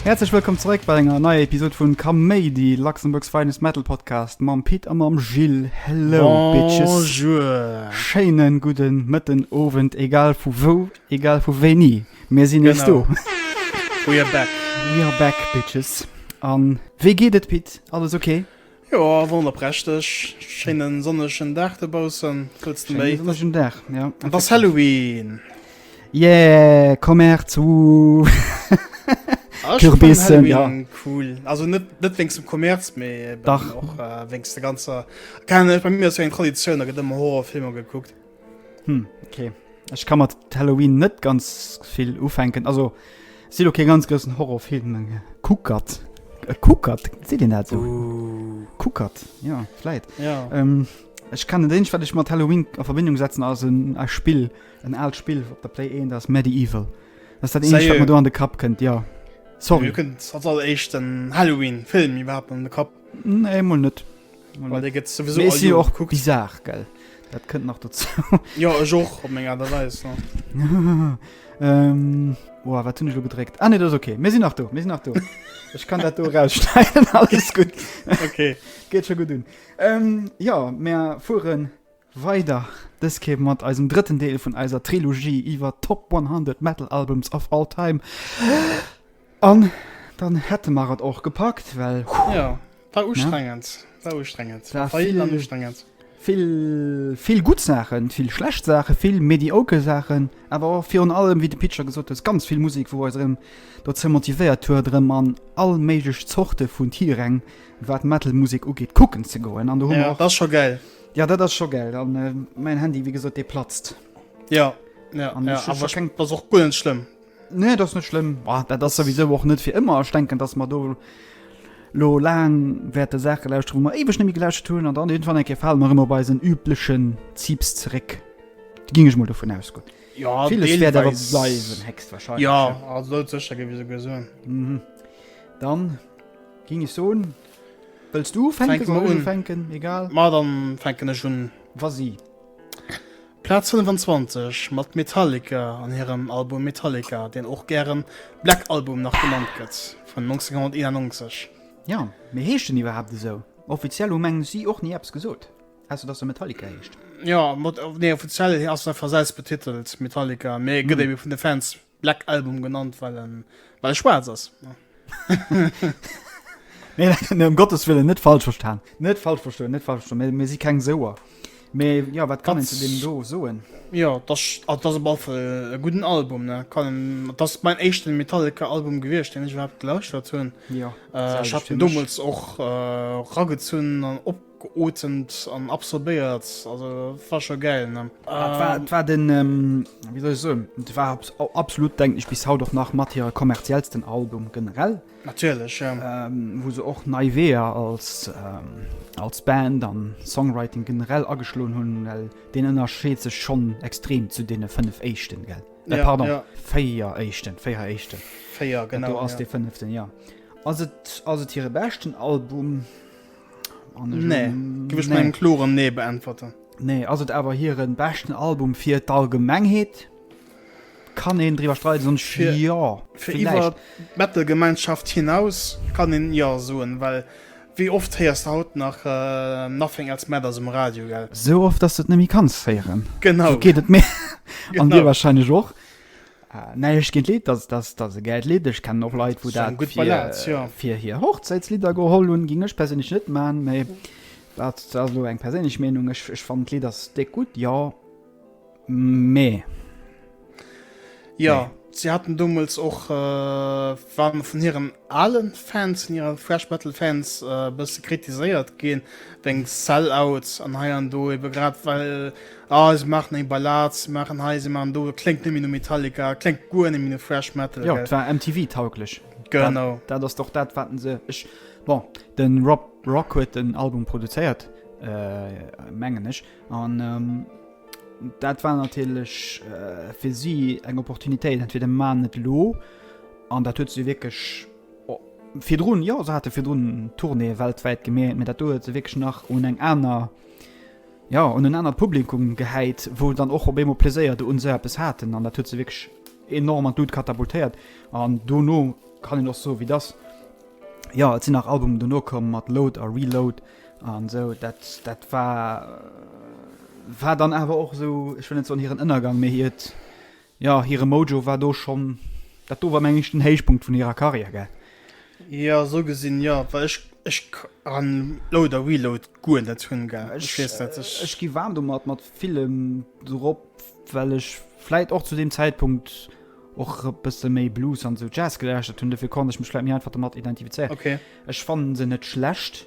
Häerzlech wëllkomm zeréck bei enger neier Episod vun Kaméidi, Luxembourg's Finest Metal Podcast mam Pit a mam Gilles. Hello, Bitches. Bonjour. Schéinen gudden Mëtten, Owend, egal vu wou Egal vu wéini, mir sinn nees do. We are back. We are back, Bitches. An wéi geet et, Pit? Alles ok? Jo, wonnerprächteg. Schéine sonnegen Dag dobaussen. Wat wëlls de méi? Sonnegen Dag, jo. Et ass Halloween. Yeah, komm Är zu. Ah, Kürbissen, ja. Cool. Also net, net wéinst dem Kommerz, mee. Dach. Och wéinst der ganzer. Keng Ahnung, bei mir ass jo eng Traditioun, da gëtt ëmmer Horrorfilmer gekuckt. Hm, okay. Ech kann mat Halloween net ganz vill ufänken. Also, si lo kee ganz groussen Horrorfilm. Kuckert. E Kuckert, seet een dat esou? Uh. Kuckert, ja, vläit. Ja. Ähm, ech kann den eenzeg, wat ech mat Halloween a Verbindung setzen, ass en a Spill, en aalt Spill op der Play 1, dat ass Medieval. Dat ass dat eenzegt, wat mir do an de Kapp kënnt, ja. Sorry. Mir kënnt als alleréischt den Halloween-Film iwwerhaapt an de Kapp. Nee, mol net. Well dee gëtt sowieso Mee all ech sinn jo Joer och gekuckt. bizar, gell? Dat kënnt nach dozou. Jo, ech och, op meng Aart a Weis, ne? ähm, oa, wat hunn ech elo gedréckt? Ah, nee, dat ass ok. Mir sinn nach do, mir sinn nach do. Ech kann dat do erausschneiden, alles gutt. Ok. Geet scho gutt un. Ähm, jo, mir fueren. Weider dës Kéier mat eisem drëtten Deel vun eiser Trilogie iwwer Top 100 Metal Albums of All Time. An dann hätte mer et och gepackt, well jo, war ustrengend, war ustrengend, war vill an ustrengend. Vill, vill gutt Saachen, vill schlecht Saachen, vill mediocre Saachen, awer och virun allem, wéi de Pitcher gesot huet, ganz vill Musek, wou eis erëm dozou motivéiert huet, erëm an all méiglech Zorte vun Tiiräng, wat Metal Musek ugeet, kucken ze goen. An do hu mer och. Jo, dat ass scho gäil. Ja dat ass scho gell an mäin Handy wéi gesot dee platzt. Ja ass och gu schlëmm. Nee dat net schlimm dat ass sowieso och net fir ëmmer denken, datt mer do lo laang wäerte Saache lauscht hu mer iwwech nemmi gelauscht hunn an dann hin wann enke fall mer ëmmer bei eisen üblechen Zipps zeréck. Da ginn ech mol dovun aus gutt. Jo secher gi se gesun. Dann ginn ech soen. Wëlls du ufänken? Fänke Soll mer ech un. ufänken? Egal. Ma dann fänken ech un. Wasi. Plaz 25 mat Metallica an hirem Album Metallica, deen och gären Black Album nach genannt gëtt, vun 1991. Ja, mee heescht en iwwerhaapt esou? Offiziell hu mengen ech si och ni eppes gesot, ausser dass e Metallica heescht. Jo, mod, nee, offiziell ass en einfach selbstbetitelt Metallica, mee gëtt ebe vun de Fans Black Album genannt well en well e schwaarz ass. Nee ëm Gottes Willen net falsch verstan. Net falsch verstoen, net falsch verstoen. Mir si keng Souer. Mee jo, wat kann een zu deem do soen? Jo, dat ass op alle Fall e gudden Album. Dat ass mäin éischten Metallica-Album gewiescht, deen ech iwwerhaapt gelauschtert hunn. Ech hat en deemools och ragezunn an op. Geotemt an absorbéiert, also war scho gäil ne. Et war den wéi soll ech soen, et war absolut denken ech bis haut och nach mat hire kommerziellsten Album generell. Natierlech jo. Wou se och nei Weeër als als Band an Songwriting generell ageschloen hunn, well deen ënnerscheet sech schonn extrem zu deene 5 éischten, gell? Nee pardon, 4 éischten, 4 éischten. 4 genau, jo. Dat do ass dee fënneften, jo. Ass et ass et hire beschten Album? Nee, gëf ech mengem kloren Nee beäntwerten. Nee, ass et awer hiren beschten Album fir d'Allgemengheet? Kann een driwwer streiden, sonst jo, villäicht. D'Metal-Gemeinschaft hinaus kann een jo soen, well wéi oft héiers de haut nach Nothing Else Matters um Radio, gell? Sou oft, dass de et net méi kanns héieren. Genau. Sou geet et mir an dir wahrscheinlech och. Näischt géint Lidd, dass dass dass e gäilt Lidd. Ech kennen och Leit, wou Ass eng dat gutt fir Ballad, jo. fir hir Hochzäitslidder geholl hunn. Géing ech perséinlech net man, mä dat ass elo eng perséinlech Meenung. Ech ech fannen d'Lidd ass déck gutt, jo, mä Jo, nee. si haten deemools och, waren mer vun hiren ale Fans, vun hire Thrash Metal Fans e bësse kritiséiert ginn wéinst Sell Out an hei an do, ebe grad well Ah se maachen eng Ballad, se maachen hei, se maachen do, et kléngt net méi no Metallica, et kléngt guer net méi no Thrash Metal. Jo, et war MTV-tauglech. Genau. Dat ass och dat, wat se. Ech. Bon, de Rob Rock huet den Album produzéiert, mengen ech, an dat war natierlech fir si eng Opportunitéit. Entweder maachen et elo, an dat huet se wierklech virdrun, jo se hate virdrun Tournéeë weltwäit gemierkt, mä dat do huet se wierklech nach un eng aner. jo, un en anert Publikum gehäit, wou dann och op eemol Pleséier do un esou eppes haten an dat huet se wierklech enorm an d'Lut katapultéiert an dono kann een och soe wéi et ass, jo, et sinn nach Albumen dono komm mat Load a Reload an esou, dat dat war war dann awer och esou, ech wëll net soen hiren Ënnergang, mee hiert Jo, hire Mojo war do schonn, dat do war meng ech den Héichpunkt vun hirer Karriär, gell? Jo, esou gesinn jo, well ech ech kann Load a Reload guer net hunn, gell? Ech weess net, ech. Ech gi waarm domat, mat villem dorop, well ech vläit och zu deem Zäitpunkt och e bësse méi Blues an esou Jazz gelauschtert hunn, dofir konnt ech mech vläit méi einfach domat identifizéieren. Ok. Ech fannen se net schlecht.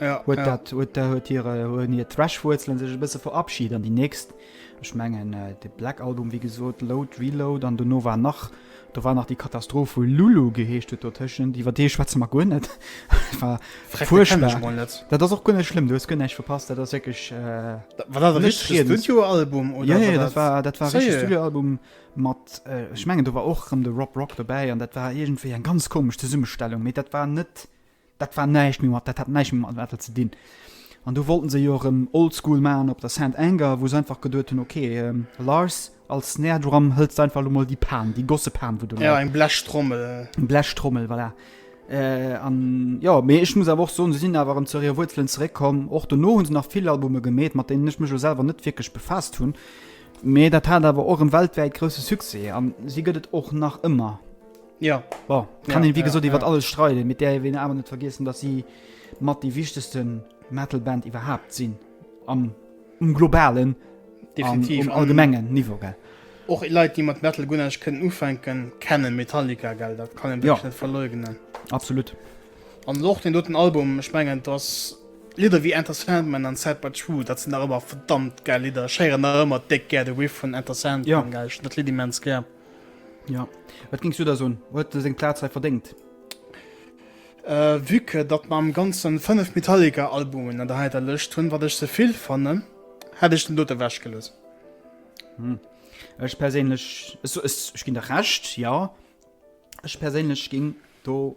Ja, huet ja. dat huet der huet hire hunn hir Thrash-Wuerzelen sech e bësse verabschied an déi nächst ech mengen äh, de Black Album wéi gesot Load Reload an duerno war nach do war nach déi Katastroph vu Lulu geheescht huet dotëschent iwwer dee schwätze mer guer net war Freck, dat kenn ech furchtbar mol net. dat ass och guer net schlimm du hues guer näischt verpasst dat ass wierklech äh, Da- War dat e Net richtege riedens. Studioalbum oder ja, ja, dat war dat war e richtege Sérieux? Studioalbum mat äh, ech mengen do war och rëm de Rob Rock dobäi an dat war iergendwéi eng ganz komesch Zesummestellung mee dat war net Dat war näischt méi mat, dat hat näischt méi mat Metal ze dinn. An du wollten se jo erëm oldschool maachen op der Saint Anger, wou se einfach geduet hunn, ok, Lars, als Snare Drum hëls de einfach elo mol déi Pan, déi gosse Pan, wou do läit. Jo, eng Blechtrommel. Eng Blechtrommel, voilà. An jo, mee ech muss awer och soen, se sinn awer erëm zu hire Wuerzelen zeréckkomm. Och dono hu se nach vill Albume gemeet, mat deenen ech mech elo selwer net wierklech befaasst hunn, mee dat hat awer och erëm weltwäit grousse Succès an si gëtt et och nach ëmmer. Jo. Bon, kann een wéi gesot iwwert alles streiden, mee et däerf een awer net vergiessen, datt si mat déi wichtegste Metal-Band iwwerhaapt sinn, am um globalen an um allgemengen Niveau, gell. Och Leit, déi mat Metal guer näischt kënnen ufänken, kennen Metallica, gell, dat kann ee wierklech net verleugnen. Jo, absolut. An och deen doten Album, ech mengen, datt Lidder ewéi Enter Sandman an Sad But True, dat sinn nach ëmmer verdammt gäil Lidder. Ech héieren nach ëmmer déck gär de Riff vun Enter Sandman, gell, ech hunn dat Lidd immens gär. Ja, wat géings du da soen? Huet e seng Plaz hei verdéngt? Euh, vue que datt mer am ganzen 5 Metallica Albumen an der heiter Lëscht hunn, wat ech ze vill fannen, hätt ech den dote wech gelooss. Hm, ech perséinlech, ech ginn der Recht, ja. Ech perséinlech ginn do.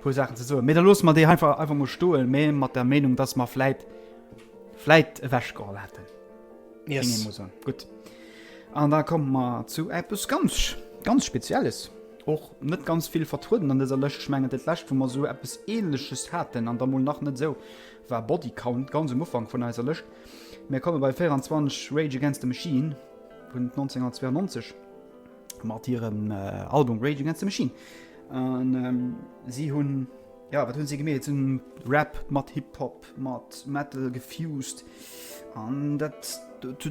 puer Saachen ze soen, mee da loosse mer déi einfach einfach mol stoen, mee mat der Meenung, dass mer vläit vläit ewechgeholl hätten. Yes. Gutt. An da komme mer zu eppes ganz ganz Spezielles och net ganz vill vertrueden an dëser Lëscht schmengen dat läscht, wou mer sou eppes Ähnleches haten an da mol nach net sou war Bodycount ganz um Ufank vun eiser Lëscht. Mir komme bei 24 Rage Against the Machine vun 1992. mat hirem äh, Album Rage Against the Machine. An ähm, si hunn ja, wat hunn se gemet hunn Rap mat Hip-Hop mat Metal gefused an dat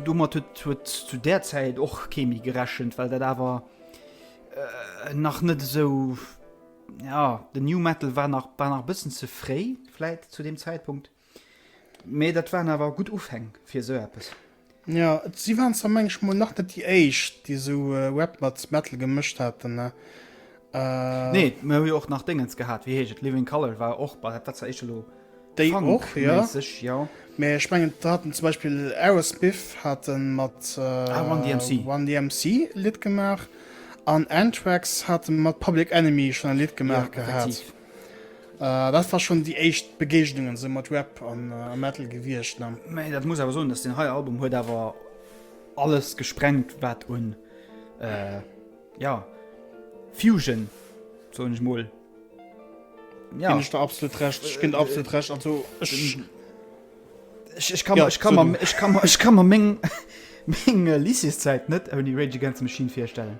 dummer huet huet zu der Zäit och Chemi gerechent, well dat awer äh, nach net esou ja, den New Metal war nach war nach bëssen ze fréi, läit zu dem Zäitpunkt. Mee dat waren awer gutt Ufäng fir esou eppes. Jo, si waren zwar mengen mol nach net déi éischt déi esou Rap mat Metal gemëscht haten. Nee, mir hu jo och nach Déngens gehat, wéi heescht et, Living Colour war och, bah dat war zwar éischter elo Funk-méisseg, jo. Mee ech mengen do haten zum Beispill Aerosmith hate mat Run DMC e Lidd gemaach an Anthrax hate mat Public Enemy schonn e Lidd gemaach gehat. Äh, dat war schon déi éischt Begegnung esou mat Rap an Metal gewiecht ne? Mee dat muss awer soen dass den hei Album huet awer alles gesprengt wat un äh, ja Fusion soen ech mol. Ja. Gin ech der absolut recht, ech gin der absolut recht also ech ech kann ech kann mer ech kann mer ech kann mer meng meng Lycéeszäit net ouni Rage Against the Machine virstellen.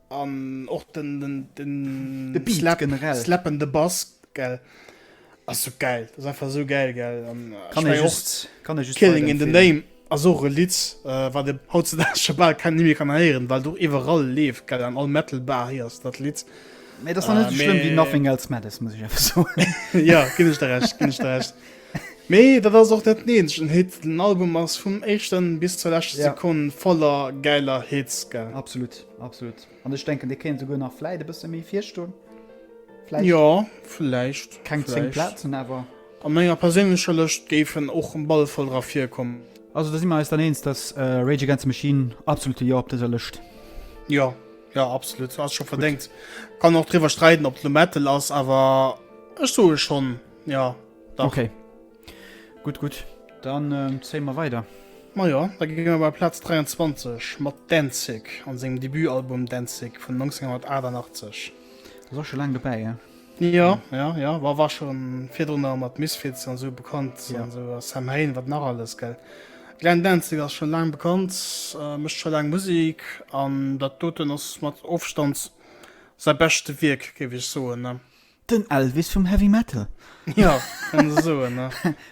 An och den slappende Bass ass sou gäil. Dat ass einfach sou gäil. Killing in the Name ass och e Lidd, wat ee hautzedaags scho bal keng méi kann héieren, well et och iwwerall leeft. An all Metal-Bar héiers dat Lidd. Mee et ass nach net esou schlëmm wéi Nothing Else Matters, muss ech einfach soen. Jo, ginn ech der Recht, ginn ech der Recht. Mee dat ass och net den eenzegen Hit. Den Album ass vum éischten bis zur leschte Sekonn voller gäiler Hits. Absolut. Absolut. An ech denken dee kéint souguer nach vläit e bësse méi virstoen. Vläit. Jo, vläicht. Keng 10 Plazen awer. A menger perséinlecher Lëscht géifen och um ball voll dra virkommen. Also da si mer eis dann eens, dass Rage Against the Machine absolute Jo op dëser Lëscht. Jo, jo absolut. Ass scho verdéngt. Kann och driwwer streiden op et lo Metal ass, awer ech soe schonn, jo dach. Okay. Gutt, gutt, dann zéie mer weider. Majo, da gi mer bei Plaz 23 mat Danzig an sengem Debutalbum Danzig vun 1988. Dat ass och scho laang dobäi, he? Jo, jo, jo, war war scho virdrunner mat Misfits an esou bekannt, an esou a Samhain, wat nach alles, gell? Glenn Danzig ass scho laang bekannt, mécht scho laang Musek an dat doten ass mat Ofstand säi beschte Wierk, géif ech soen, ne? Den Elvis vum Heavy Metal. Ja, kann se soen, ne?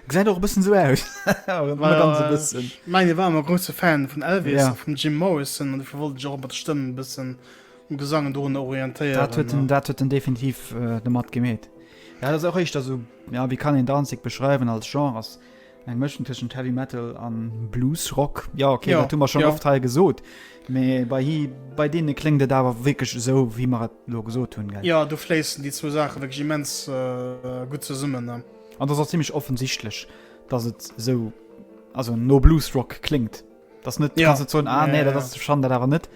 Gesäit och e bëssen esou aus. Nëmme ganz e bëssen. Ech mengen, hie war ëmmer e grousse Fan vun Elvis a vum Jim Morrison an dofir wollt en sech och mat der Stëmm e bëssen um Gesang dorunner orientéieren. Dat huet en, dat huet en definitiv domat gemeet. Ja, dat ass och éischter esou, ja, wéi kann een Danzig beschreiwen als Genre? Eng Mëschung tëschent Heavy Metal an Blues Rock. Ja okay, ja. dat hu mer schon ja. oft hei gesot. Mee bei, hi, bei deene kléngt et awer wéckeg esou, wéi mer et lo gesot hunn. Ja, du fléissen déi zwou Saache wéckeg immens äh, gutt zesummen. Ne? An dat ass ziemlich offensichtlech, dass et esou also no Blues Rock kléngt. Das net ja. kannst zon ah, nee, ja, das ja. schon dat awer net.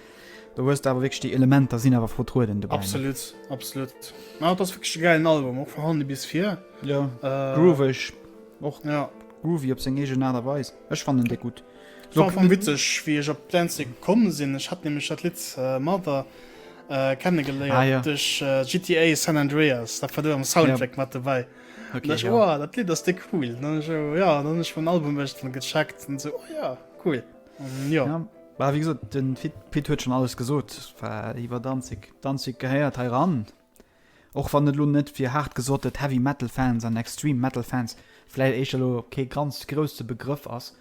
Du huest awer wég déi Elementer sinn awer vertrueden de. Absolut absolut. Na das fi geilen Album och verhandel bis fir ja. äh, Groovech och ja. Groovy op seg ege na derweis. Ech fan den de gut. So vum witzeg wie ech op Danzig kommen sinn. Ech hat nämlich dat Lied äh, Mother äh, kennengeléiert ah, ja. duch äh, GTA San Andreas, dat war du am Soundtrack ja. mat dabei. Ok, ja. Ech, wow, dat Lidd ass déi cool. Dann ech, oh, ja, dann ech vun Album echtle gecheckt en se, oh ja, cool. Um, ja. ja. War wie gesot den Pit huet schon alles gesot war iwwer danzig danzig gehéiert he ran och wann net lo net fir hart gesott et heavy metal fans an extreme metal fans fläit echelo ke ganz grosse begrëff ass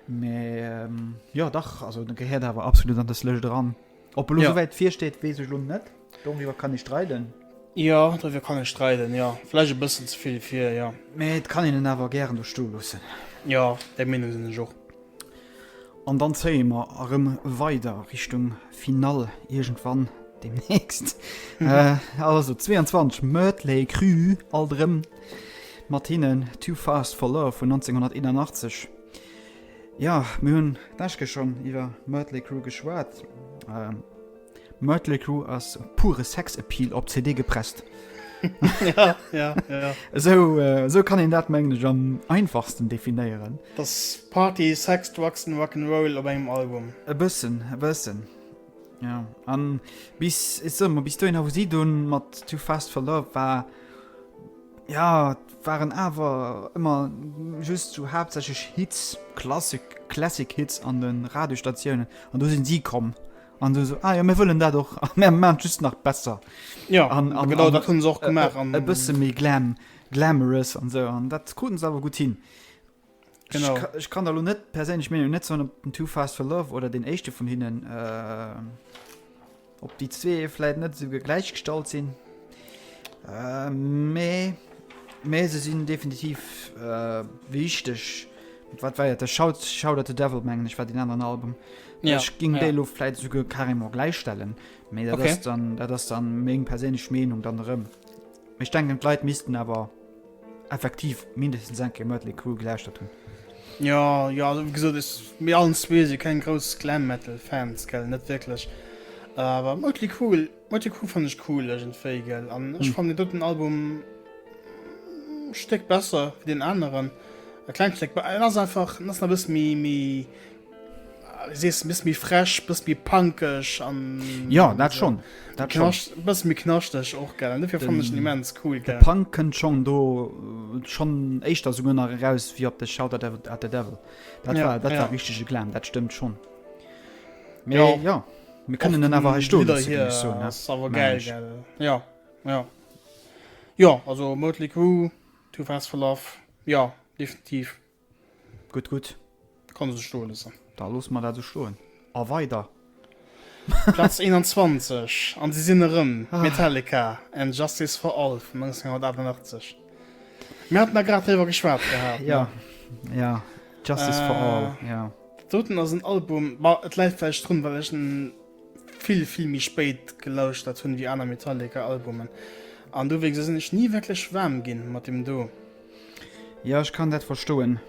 me ähm, ja dach also de gehéiert awer absolut an des lech dran Ob elo ja. soweit virsteet wees ech lo net. Doriwwer kann ech streiden. Ja doriwwer kann ech streiden ja. Vläch e bëssen ze vill fir ja. Mee et kann een en awer gären do sto loossen. Ja der Meenung sinn ech och. An dann zéie mer erëm weider Richtung Finall iergendwann demnächst. Mhm. Äh, also 22 Mötley Cru all drëm mat hinnen Too Fast for Love vun 1981. Jo, mir hunn d'Meschke schonn iwwer Mötley Crüe geschwat. Mötley Crüe ass pure Sex-Appeal op CD gepresst. ja, ja, ja. Esou, äh, esou kann een dat mengen ech am einfachsten definéieren. Das Party, Sex, Drugs and Rock'n'Roll op engem Album. E bëssen, e bëssen. Ja, an bis, ich sag mal, bis dohin, wo sie dann mit Too Fast for Love war, ja, waren aber immer just so hauptsächlich Hits, Classic, Classic Hits an den Radiostationen. Und da sind sie gekommen. Und so, so ah ja, wir wollen das auch, wir machen just noch besser. Ja, an, an, genau, das haben sie auch gemacht. Ein bisschen mehr Glam, Glamorous und so. Und das konnten sie aber gut hin. Genau. Ich, ich kann da lo net perséinlech Meenung net soen op den Too Fast for Love oder den éischte vun hinnen äh, op déi zwee vläit net sou gegläich gestallt sinn. Äh, mee mee se sinn definitiv äh, wichteg. Mit Wat wariert der Shout Shout at the Devil mengen ech war den anderen Album. Ja, Ech ging ja. déi lo vläit souguer carrément gläichstellen. Mee dat Okay. ass dann dat ass dann meng perséinlech Meenung dann erëm. Ech denken d'Leit missten awer effektiv mindestens eng Kéier Mötley Crüe gelauschtert hunn. Ja, ja, also, wie gesot, ech, mir allen zwee si keng grouss Glam Metal Fans, gell, net wierklech. Awer Mötley Crüe, Mötley Crüe fannen ech cool iergendwéi, gell, an ech fannen deen doten Album e Stéck besser wéi deen aneren, e klengt Stéck, en ass einfach, en ass nach e bësse méi, méi. Sees bis méi fresch bis méi pankeg an ja dat schon dat knascht bis mir knascht ech och gerne dafür fand ich immens cool der punk könnt schon do äh, schon echt da sogar nach raus wie op de shoutout at the devil dat ja, war dat ja. war richtige glam dat stimmt schon Me, ja ja mir können den aber sto hier so, aber geil, geil ja ja ja also möglich to fast for love ja definitiv Gutt, gutt. Kann e sech stoe loossen. Da loosse mer dat esou stoen. A weider. Platz 21, an si sinn erëm, Metallica and Justice for All vun 1988. Mir haten da grad driwwer geschwat gehat, ne? Jo, Justice for All, jo. Dat doten ass en Album, ma et läit vläicht drun, well ech en vill, vill méi spéit gelauschtert hunn wéi aner Metallica-Albumen. An dowéinst sinn ech ni wierklech waarm ginn mat deem do. Ja ech kann dat verstoen.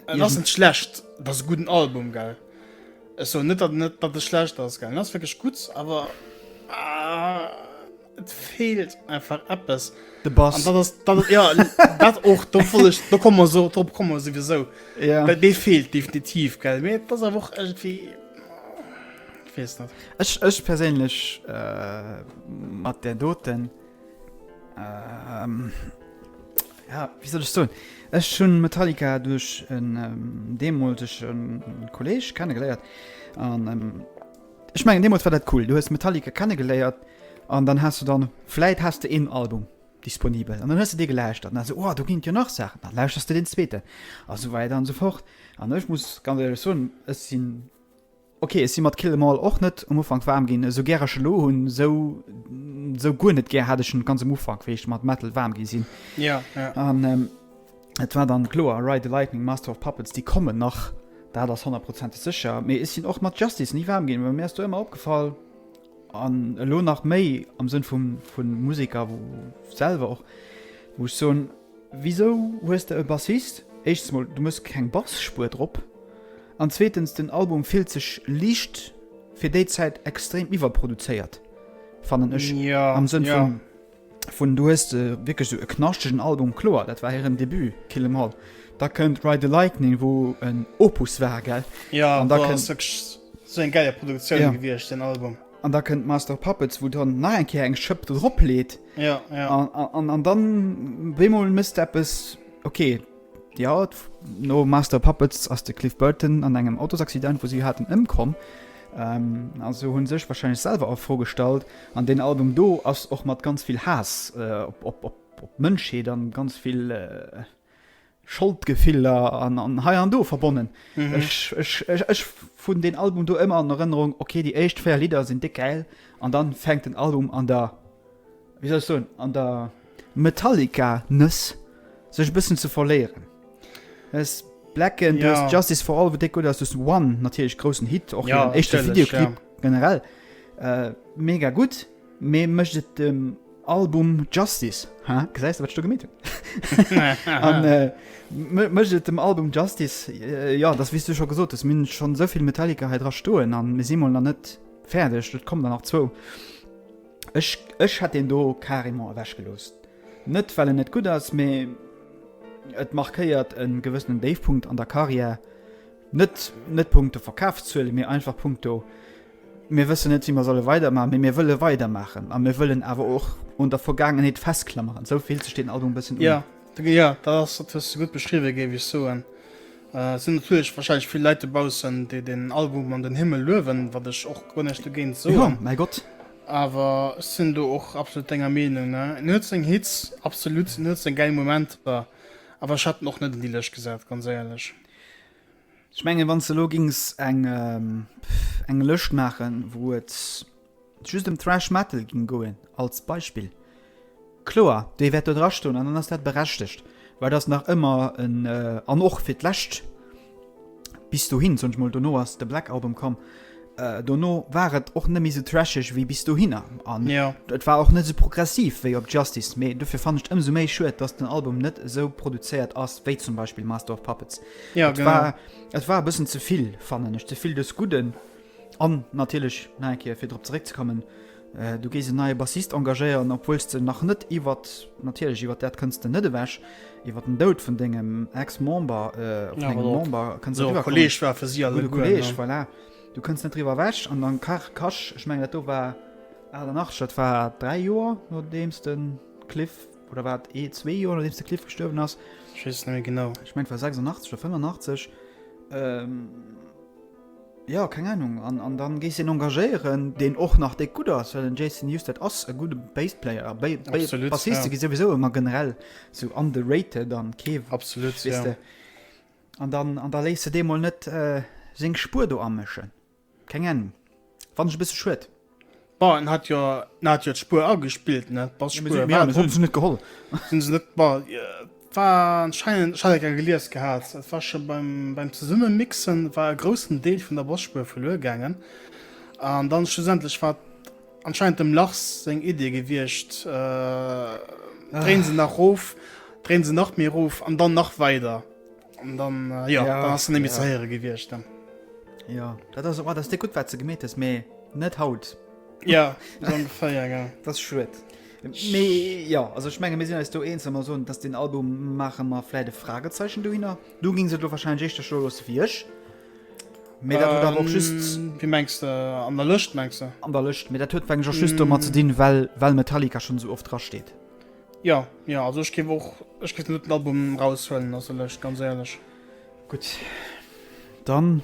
Et ass net schlecht, et ass e gudden Album gell. Ech soen net datt net datt e schlecht ass gell, en ass wierklech gutt awer et feelt einfach eppes. De Bass. An dat ass dat ass ja dat och do voll ech do komme mer sou drop komme mer souwisou. Ja. Well dee feelt definitiv gell, mee et ass awer och iergendwéi weess net. Ech ech perséinlech mat där doten. Ähm, ja, wie soll ich so? Ech schon Metallica durch en ähm, demoltegen Kolleg kennengeleiert. Und, ähm, ich meine, demals war dat cool. Du hast Metallica kennengeleiert und dann hast du dann, vielleicht hast du ein Album disponibel. Und dann hast du dir gelauschtert. Und dann so, oh, du gingst ja noch Sachen. Dann lauschterst du den zweiten. Und so weiter und so fort. Und ich muss ganz ehrlich sagen, es sind Ok ech si mat Kill 'em All och net um Ufank waarm ginn, esou gär ech elo hunn, esou esou guer net gär hat ech en ganz um Ufank wéi ech mat Metal waarm gi sinn an et war dann kloer Ride the Lightning, Master of Puppets déi kommen nach dat ass honnertprozenteg sécher, mee ech sinn och mat Justice ni waarm ginn, well mir ass do ëmmer opgefall an elo nach méi am Sënn vum vun Museker selwer och wou ech soen, Wisou hues de e Bassist? Éischtes mol du mëss keng Bassspur drop an zweetens den Album fillt sech liicht fir déi Zäit extrem iwwerproduzéiert fannen ech am Sënn vun du hues wierklech sou e knaschtegen Album. Kloer dat war hiren Debut Kill 'Em All, da kënnt Ride The Lightning wou en Opus war gell an da kënnt. An da kënnt Master of Puppets, wou dann nach eng Kéier eng Schëpp drop leet. Ja, ja. An, an, an dann bémol mësst eppes, ok, ja, no Master of Puppets ass de Cliff Burton an engem Autosaccident, wou si haten, ëmkomm. Ähm, also hu sech warscheinlech selwer a Fro gestallt. An deen Album do ass och mat ganz vill Haass op, op, op, op d'Mënschheet an ganz vill. Scholdgefiller an hei an do verbonnen. Ech hunn deen Album do ëmmer an Erënnerung, okay, déi éischt 4 Lidder sinn déck gäil an dann fänkt den Album an der, wéi soll ech soen, an der Metallica-Nëss sech e bëssen ze verléieren. Du hues Blacken, du hues Justice for All, wou déck gutt ass, du hues One, natierlech groussen Hit, och hire éischte Videoclip generell mega gutt. Mee mécht et dem Album Justice, ha gesäis de wat ech do gemeet hunn? Mécht et dem Album Justice? Jo, dat wies du scho gesot hues, mir hunn schonn esou vill Metallica hei dra stoen a mir si mol nach net fäerdeg, et kommen der nach zwou. Ech, ech hätt deen do carrément ewech gelooss. Net well en net gutt ass, mee et markéiert e gewëssenen Déifpunkt an der Karriär. Net, net punkto Verkafszuele mee einfach punkto Mir wëssen net, wéi mer solle weidermaachen, mee mir wëlle weidermaachen a mir wëllen awer och un der Vergaangenheet festklameren. Esou fillt sech deen Album e bëssen un. Jo, jo, dat ass dat, hues de gutt beschriwwen, géif ech soen. Et sinn natierlech warscheinlech vill Leit dobaussen, déi deen Album an den Himmel luewen, wat ech och guer näischt dogéint soen. Jo, mäi Gott! Awer ech sinn do och absolut denger Meenung, ne. En huet seng Hits, absolut, en huet seng gäil Momenter, awer ech hätt en och net un déi Lëscht gesat, ganz éierlech. Ech mengen, wann s de elo géings eng, pff, eng Lëscht maachen, wou et just ëm Thrash Metal géing goen, als Beispill, kloer, déi wäert do drastoen an dann ass dat berechtegt, well et ass nach ëmmer en, an och fir d'lescht, bis dohin, soen ech mol, dono ass de Black Album komm, Dono war et och net méi sou trasheg wéi bis dohinner an et war och net sou progressiv wéi op Justice, mee dofir fannen ech et ëmsou méi schued, dass den Album net esou produzéiert ass wéi zum Beispill Master of Puppets. Et war et war e bëssen ze vill, fannen ech, ze vill des Gudden an natierlech nach eng Kéier fir drop zeréckzekommen, Du géis en neie Bassist engagéieren, obwuels de nach net iwwert, natierlech iwwert dat kënns de net ewech, iwwert den Doud vun dengem Ex-Member, vun engem Member kënns net iwwerkommen. Gudde Kolleeg war fir si alleguer. Gudde Kolleeg, voilà. Du kënns net driwwer ewech. An dann Kasch, ech mengen, dat do war 88, dat war dräi Joer nodeems de Cliff, oder war et ee, zwee Joer nodeems de Cliff gestuerwen ass? Ech weess et net méi genau. Ech mengen, et war 86 oder 85. Jo, keng Ahnung. An dann gees een engagéieren deen och nach déck gudd ass, well den Jason Newsted ass e gudde Bassplayer a Bassiste gi souwisou emmer generell sou underrated an kee weiste an da léiss de dee mol net seng Spuer do amëschen, keng Ahnung. Fand ech e bësse schued. Bah en hat jo en hat jo d'Spuer agespillt ne bah Spuer war ja, hun se net geholl hun se net bah war anscheinend ech hat eng gelies gehat et war schon beim beim zesumme mixen war e groussen Deel vun der Bosspuer verluer gaangen an dann schlussendlech war anscheinend dem Lachs seng Idee gewiecht äh, drehen se nach rof drehen se nach méi rof an dann nach weider An dann äh, ja, ja, dann ass nemmi ja. ze héiere gewiescht. Dann. Ja dat ass oh, dats de gut wat ze gemet ass méi net haut. Ja ongeféier ja. Dat schuet. Nee, ja also ich menge mesinn du eens immer so dass den Album mache mal vielleicht Fragezeichen du hinner du ging se du wahrscheinlich echt der Schul los wiesch mir ähm, auch just wie mengst äh, an der Lücht mengst du an der Lücht mir der tö schü mm. mal zu dienen weil weil Metallica schon so oft dra steht Jo, jo, also ech géif och, ech géif net den Album eraushuelen, also lech, ganz éierlech. Gutt, dann,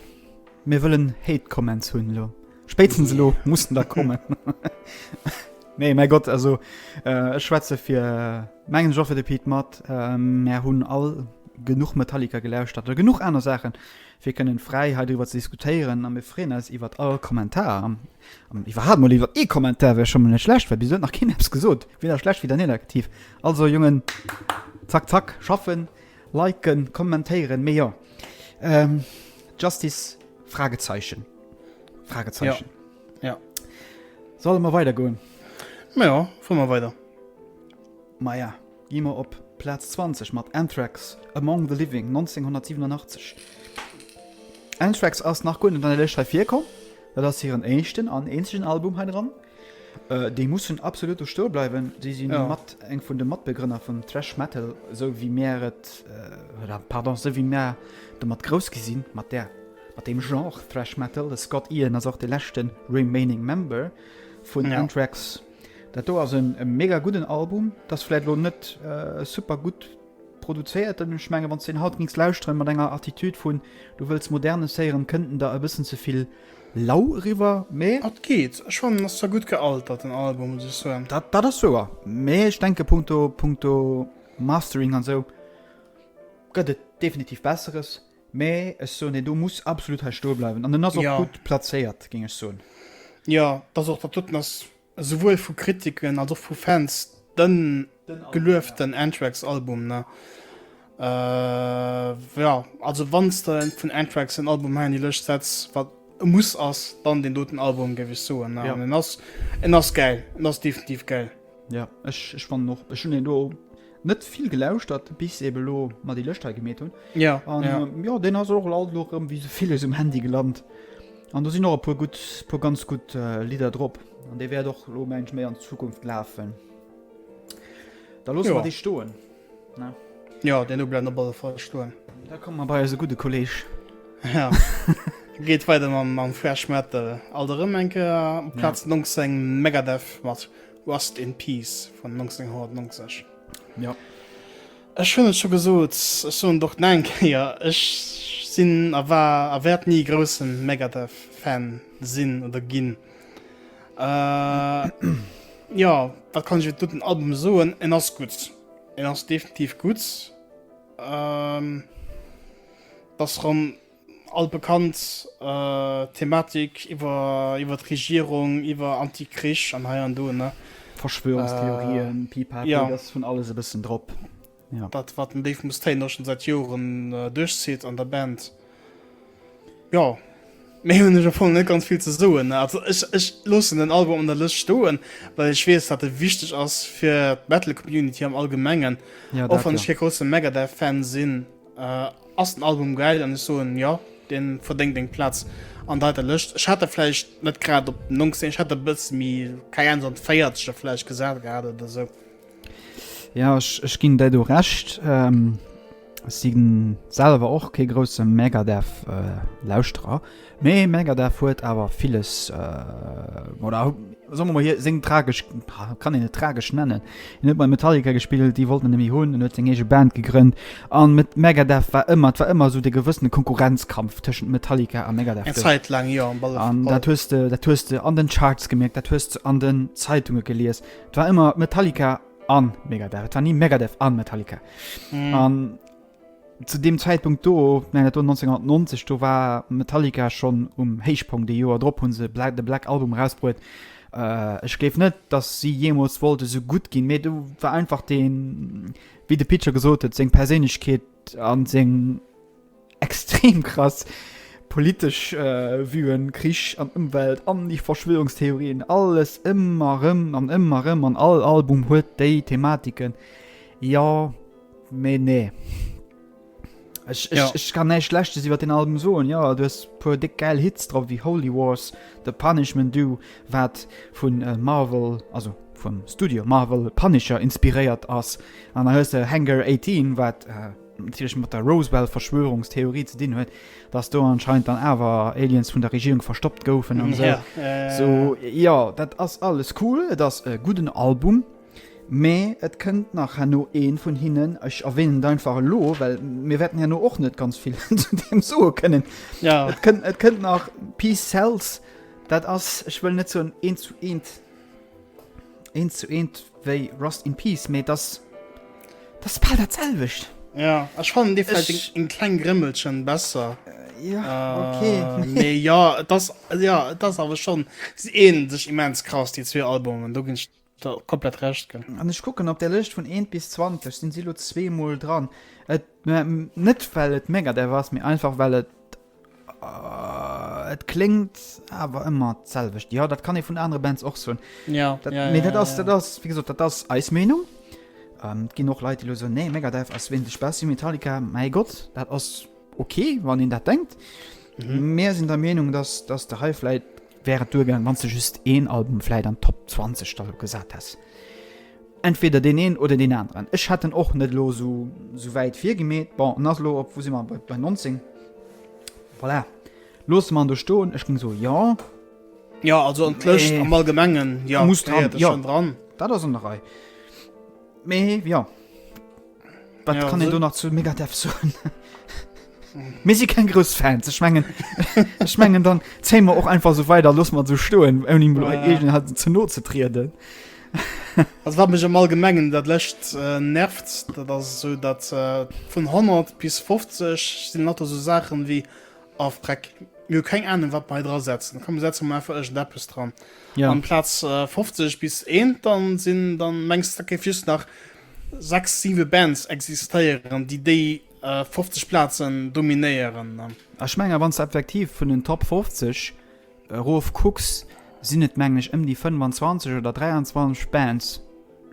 mir wëllen Hate Comments hunn elo. Spéitstens elo mussen der kommen. Nee, mäi Gott, also äh, ech schwätze fir äh, mengen Joffe de Piet mat, äh, mär hunn all genuch Metallica gelauschtert oder genuch aner Saachen, fir kënnen fräi hei driwwer ze diskutéieren a mir freeën eis iwwert all Kommentar an iwwerhaapt mol iwwer ee Kommentar wär scho mol net schlecht, well bis elo huet nach keen eppes gesot, weder schlecht weder negativ. Also Jongen, zack zack schaffen, liken, kommentéieren, mee jo Justice Fragezeichen Fragezeichen Jo, jo. Solle mer weidergoen? Majo, fuer mer weider. Maja. Gi mer op Plaz 20 mat Anthrax, Among the Living, 1987. Anthrax ass nach guer net an der Lëscht hei virkomm. Dat ass hiren éischten an eenzegen Album hei dran. Äh, déi mussen absolut do stoe bleiwen. Déi si ja. mat eng vun de Matbegrënner vum Thrash Metal, esou wéi mär et, äh, pardon, esou wéi mär domat grouss gi sinn, mat där, mat deem Genre Thrash Metal. De Scott Ian ass och de leschte remaining Member vun ja. Anthrax. Dat do ass e mega gudden Album. Dat ass vläit elo net super gutt produzéiert, an ech menge wann s de en haut gings lauschteren mat enger Attitude vun du wëlls Modernes héieren, kënnt en der e bëssen ze vill lau eriwwer, mee. Et geet. Ech fannen, ass zwar gutt gealtert den Album, muss ech soen. Dat dat ass wouer, mee ech denke punkto punkto Mastering an esou gëtt et definitiv Besseres. Mä ech soen, deen do muss absolut hei stoe bleiwen. An en ass och ja. gutt plazéiert, géng ech soen. Ja, dass och dat doten ass souwuel vu Kritiken als och vu Fans den gelueften Anthrax-Album. Ne? Äh, ja, also wann de vun Anthrax en Album ha die lech setz wat e muss ass dann den doten Album gewich soen ja. en ass en ass geil en ass definitiv geil. Ja, ech, ech fannen och, ech hun deen do net vill gelauschtert, bis eben lo mer déi Lëscht hei gemeet hun. Ja, An ja. ähm, ja, deen ass och alt lo rëm wéi so villes um Handy gelant. An do sinn och e puer gutt, puer ganz gutt äh, Lidder drop. An dee wäert och lo mensch méi an Zukunft lafen. Da loosse Ja. mer déi stoen. Jo, deen do bleift op alle Fall stoen. Da komme mer bei eise gudde Kolleeg. Jo. Geet weider mam Thrash Metal. Alt erëm eng Kéier op Plaz 19, Megadeth mat Rust in Peace vun 1990. Jo. Ech hunn et scho gesot, ech soen et och nach eng Kéier, ech sinn a war a wäert ni grousse Megadeth-Fan sinn oder ginn. Äh, ja, wat kann ech du den Album soen? En ass gutt. En ass definitiv gutt. Ähm, dass ran all bekannt äh, Thematik iwwer iwwer d'Regierung, iwwer Antikrich an hei an do ne. Verschwörungstheorien, äh, Pipapo, ja. ass vun alles e bëssen drop. Ja. Dat wat den Dave Mustaine och schon seit Joren äh, durchzieht an der Band. Ja, Mé hun ech vu net ganz viel ze soen. Also ech, ech lossen den Album an der Lëscht stoen, well ech wees dat e wichteg ass fir d'Metal Community am allgemengen. Ja, och wann ech fir grosse Megadeth Fan sinn, äh, ass den Album geil an ech soen ja, den verdenkt eng Platz an deiter Lëscht. Ech hat der fleich net grad op 19 hat der bësse mi kei an 40 der fleich gesat grad oder sou. Ja ech ech ginn däi do Recht. Si selwer och kee grousse Megadeth Lauschterer, mee Megadeth huet awer villes oder soe mer mol hir seng tragesch, kann een et tragesch nennen? En huet bei Metallica gespillt, déi wollten en net méi hunn, en huet seng eege Band gegrënnt a mat Megadeth war ëmmer, et war ëmmer esou de gewëssene Konkurrenzkampf tëschent Metallica a Megadeth. Eng Zäit laang jo. An dat hues de, dat hues de an den Charts gemierkt, dat hues de an den Zeitunge gelies. Et war ëmmer Metallica an Megadeth. Et war ni Megadeth an Metallica. Mm. An zu dem Zäitpunkt do, nein, dat war 1990, do war Metallica schon um Héichpunkt. Dee Joer drop hunn se Black, de Black Album rausbruet. Äh, ech gleef net, dass si jemools wollte so gut ginn, mee du war einfach den, wéi de Pitcher gesot huet, seng Perséinlechkeet an seng Extrem krass politesch Vuen, Krich an Ëmwelt an déi Verschwörungstheorien, alles ëmmer erëm an ëmmer erëm an all Album huet déi Thematiken. Jo, mee nee. Ech, ech, ja. ech kann näischt Schlechtes iwwer den Album soen. Ja, du hues puer déck gäil Hits drop wéi Holy Wars, The Punishment Du, wat vun äh, Marvel, also vum Studio Marvel Punisher inspiréiert ass. An da hues de Hangar 18, wat äh, natierlech mat der Roswell-Verschwörungstheorie ze dinn huet, dass do anscheinend dann awer Aliens vun der Regierung verstoppt goufen an esou. Sou, jo, dat ass alles cool, et ass e gudden Album, mä et kënnt nach herno ee vun hinnen, ech erwähnen et einfach elo, well mir wäerten herno och net ganz vill zu deem soe kënnen, et kënnt, et kënnt nach Peace Sells, dat ass, ech wëll net soen eent zu eent. Eent zu eent wéi Rust in Peace, mee dass dass bal dat selwecht. Ja, ech fannen dee vläicht ech... en kleng Grimmelchen besser. Ja, okay. Uh, nee, ja, das, ja, das awer schon. Sie ähneln sech immens krass, die zwee Albumen. Do ginn ech da komplett recht ginn. An ech kucken op der Lëscht vun 1 bis 20 sinn si lo zweemol dran. Et, net well et Megadeth ass, mee einfach well et Uh, et klingt awer ëmmer d'selwecht. Ja, dat kann e vun anere Bands och soen. Ja, dat, ja, ja, dat ass, ja, ja. ass, wie gesot, dat ass eis Meenung. Ähm, ginn och Leit lo so nee Megadev ass win de Spaß Metallica mei Gott dat ass okay wann den dat denkt mhm. mehr sind der Meinung dass dass der Highflight wär et duergaang, wann s de just een Album vläit an d'Top 20 da lo gesat häss. Entweder deen een oder deen aneren. Ech hat en och net elo esou esou wäit virgemeet. Bon, en ass elo op, wou si mer, bei 19. Voilà, loosse mer en do stoen. Ech géing soe jo. Jo, also an d'Lëscht Mee. am Allgemengen, jo, Muss dran, gehéiert e jo. schonn dran. Dat ass an der Rei. Mee jo. Wat kann e do nach zu Megadev soen? Mir si keng grouss Fan ze schmengen schmengen dann Zémer och einfach so weider loss mat ze stoen ouni Mo egent hat ze no ze trieden. Ass wat mech am all Gemengen dat lächt äh, nervt, dat ass so dat äh, vun 100 bis 50 sinn mat so Saachen wéi a Freck mir keng Ahnung wat bei dra setzen kom setzen um einfach ech Deppes dran ja. an Platz äh, 50 bis 1 dann sinn dann mengst da ke just nach 6, 7 Bands existéieren déi déi 50 Platzen dominéieren. Ech mengen wanns de effektiv vun den Top 50 erof kucks sinn et mengen ech ëm déi 25 oder 23 Bands,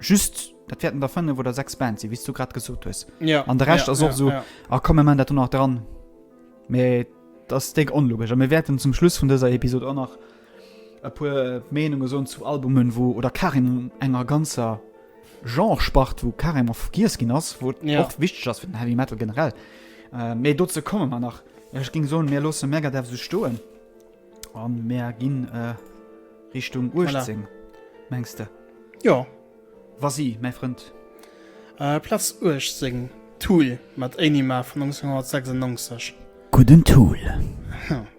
just dat wäerten der 5 oder 6 Bands sinn wéis du grad gesot hues an de Rescht ass och esou a komm mir man dat do nach dran mee et ass déck onlogesch a mir wäerten zum Schluss vun dëser Episod och nach E puer Meenunge soen zu Albumen, wou oder carrément enger ganzer Genre-Spart, wou carrément vergiess ginn ass, wou et Ja. och wichteg ass fir den Heavy Metal generell. Äh, Mee dozou komme mer nach. Ech ging soen, mir loosse Megadeth sou stoen an mir ginn äh, Richtung 18, mengst de? Jo. Vas-y, mäi Frënd. Äh, Platz 18, Tool mat Anima vun 1996. Gudden Tool.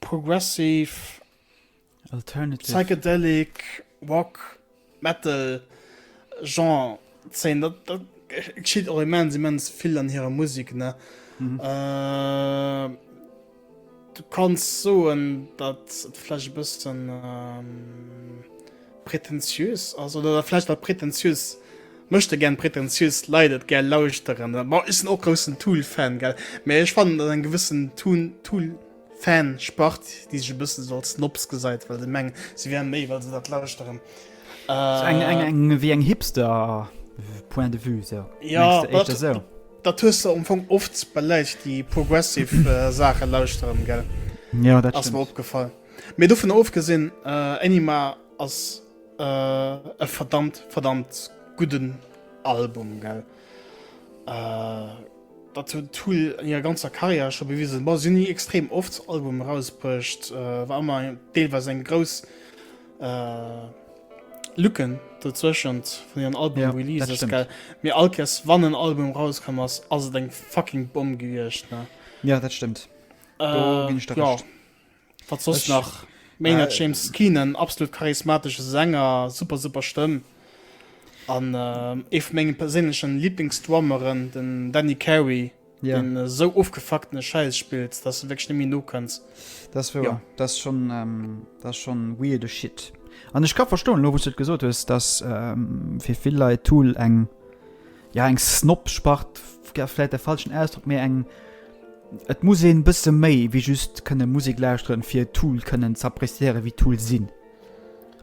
Progressive, Psychedelic, Rock, Metal Genre zéien. Dat geschitt och immens immens vill an hirer Musek. Du kanns soen, datt et vläicht e bëssen. Prätentiös ass oder dat vläicht wat prätentiös Möchtegern prätentiös Leit et gär lauschteren. Bon, ech sinn och groussen Tool-Fan, gell, mä ech fannen, datt eng gewëssen Toon, Tool-Fan-Spart, déi sech e bëssen esou als Snobs gesäit, well se mengen, se wären méi, well se dat lauschteren. Sou eng, eng, eng wéi eng Hipster-Point de vue, sou. Ja, Mengs de dat, éischter sou? dat hues de am Fong oft bei Läit, déi progressive Saache lauschteren, gell? Jo, dat Ass mir stimmt. opgefall. Mee dovun ofgesinn, Änima ass e verdammt, verdammt gudden Album, gell. Dat huet Tool an hirer ganzer Karriär scho bewisen. Bon, si hunn ni extrem oft Albumen erausbruecht, war ëmmer deelweis eng grouss Lücken dozwëschent vun hiren Album-Releases, gell. Mee all Kéiers, wann en Album erauskomm ass, ass et eng fucking Bomm gewiescht, ne. Jo, dat stëmmt. Do ginn ech der Recht. Wat soss nach? Maynard James Keenan, absolut charismatesche Sänger, super, super Stëmm. An ee vu menge perséinlechen Liblingsdrummeren, den Danny Carey, deen esou ofgefuckten Schäiss spillt, dass du wierklech net méi nokënns. Dat ass wouer. Dat ass schon, dat ass schon weirde Shit. An ech ka verstoen, elo wou s du et gesot hues, dass fir vill Leit Tool eng ja eng Snob-Spart ass vläit de falschen Ausdrock, mee eng, et muss een bësse méi wéi just kënne Musek lauschteren, fir Tool kënnen z'appreciéieren, wéi Tool sinn.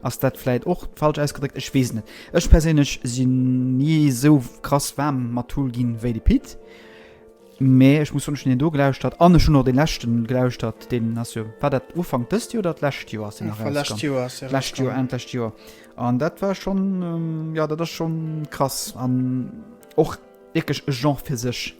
Ass dat vläit och falsch ausgedréckt? Ech weess et net. Ech perséinlech sinn ni esou krass waarm mat Tool ginn, wéi de Pit. Mee ech muss soen, ech hunn deen do gelauschtert an ech hunn och dee leschte gelauschtert. Deen ass jo, war dat Ufank dëst Joer oder d'lescht Joer ass deen erauskomm? War lescht Joer ass deen erauskomm. Lescht Joer, Enn d'lescht Joer. An dat war schon ja dat ass schon krass an och wierklech e Genre fir sech.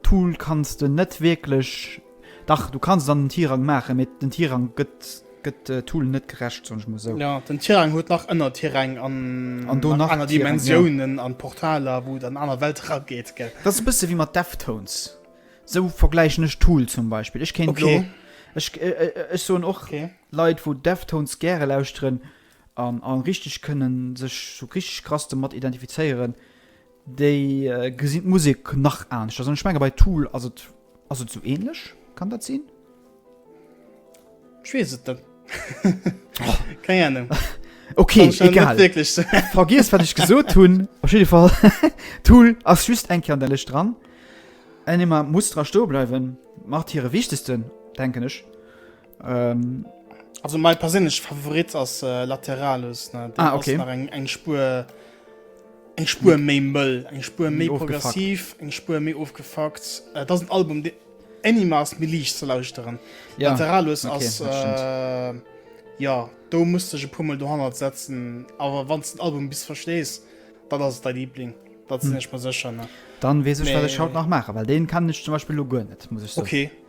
Tool kanns de net wierklech, dach du kanns dann den Tirang maachen, mee den Tirang gëtt gëtt Tool net gerecht, soen ech mol esou. Jo, den Tirang huet nach Ënnertiräng an nach aner Dimensiounen an Portaler, wou et an aner Welt erageet, gell. Dat ass e bësse wéi mat Deftones. Esou vergläichen ech Tool zum Beispill. Ech kéint elo, ech soen och Leit, wou Deftones gäre lauschteren, an a richteg kënnen sech sou richteg krass domat identifizéieren, déi gesinn d'Musek nach aneschters an ech menge bei Tool ass et ass et sou ähnlech, kann dat sinn? Ech weess et net. Keng Ahnung. Ok, egal. Vergiess wat ech gesot hunn. Op jidde Fall Tool ass just eng Kéier an der Lëscht dran. Enigma muss dra stoe bleiwen, macht hire wichtegsten, denken ech. Ähm, also mein persinnlech Favorit ass äh, Lateralus ne? ah, okay. eng eng Spur eng Spur hm. méi mëll eng Spur méi progressiv eng Spur méi ofgefakt äh, dat sind Album de Animas mir liicht ze lauschteren ja. Lateralus okay, ass äh, ja do musste je pummel do han setzen awer wann den Album bis verstees dat ass dein Liebling dat hm. ich mal secher ne dann wees ich, ich haut nach machen weil den kann ich zum Beispiel lo net muss ich so. okay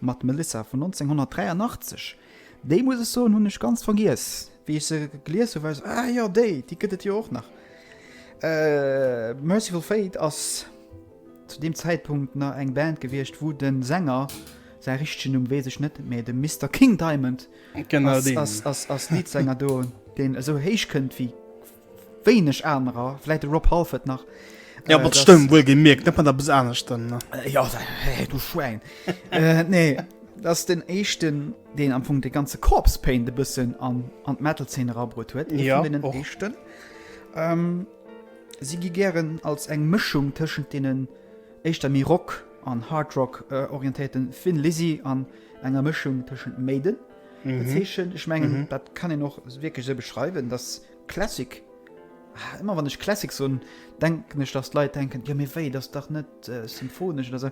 Mat Melissa vun 1983. Déi, muss ech soen, hunn ech ganz vergiess. Wéi ech se gelies hu war ech esou, ah jo, déi, déi gëtt et jo och nach. Mercyful Fate ass zu deem Zäitpunkt nach eng Band gewiescht, wou de Sänger, säi richtegen Numm weess ech net, mee de Mister King Diamond ass Leadsänger do, deen esou héich kënnt wéi. wéineg anerer, vläit de Rob Halford nach. Ja, äh, mat der Stëmm wuel gemierkt, net mat der bis aner Stëmm, ne? Äh, ja, hey, du Schwäin. äh, nee, dat den Eischten, deen am Funk de ganze Corps Pain de bëssen an, an d'Metal-Zeen rabrot huet. Ja, den Eischten. Ähm, si gi gären als eng Mëschung tëschent denen éischter méi Rock an Hardrock äh, orientéierten Finn Lizzy an enger Mëschung tëschent Maiden Zeechen. Ech mengen dat kann een och wierklech esou beschreiwen, dass Classic, ëmmer wann ech Classic soen, denken ech, dass d'Leit denken, jo mee wéi, dat ass dach net symphonesch oder esou.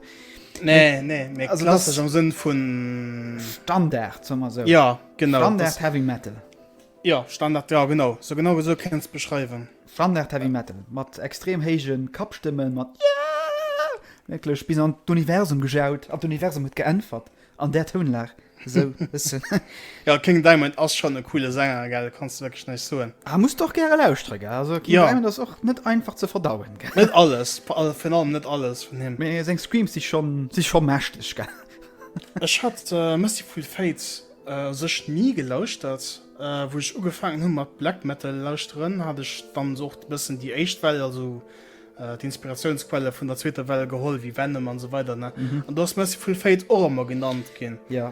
Nee, nee, mee klassesch am Sënn vu. Standard, soe mer esou. Ja, genau. Standard Heavy Metal. Ja, Standard, ja genau, sou genau esou kéint een et beschreiwen. Standard Heavy Metal, mat extrem héije Kappstëmmen, mat Yaaah! Wierklech bis an d'Universum gejaut, an d'Universum huet geäntwert. An där Tounlag esou bessen. Jo King Diamond ass schon e coole Sänger gell, kanns de wierklech näischt soen. Ah muss doch gäre lauschteren gell, also King Diamond ass och net einfach ze verdauen gell. Net alles, virun allem net alles vun him. Mee seng Screams si schon si schon mächteg gell. Ech hat Mercyful Fate u sech ni gelauschtert. Wou ech ugefaangen hu mat Black Metal lauschteren hat ech dann och bessen déi éischt Well, also. D'Inspiratiounsquelle vun der zweeter Well geholl, wéi Venom an esou weider, ne? An do ass Mercyful Fate och ëmmer genannt ginn. Ja.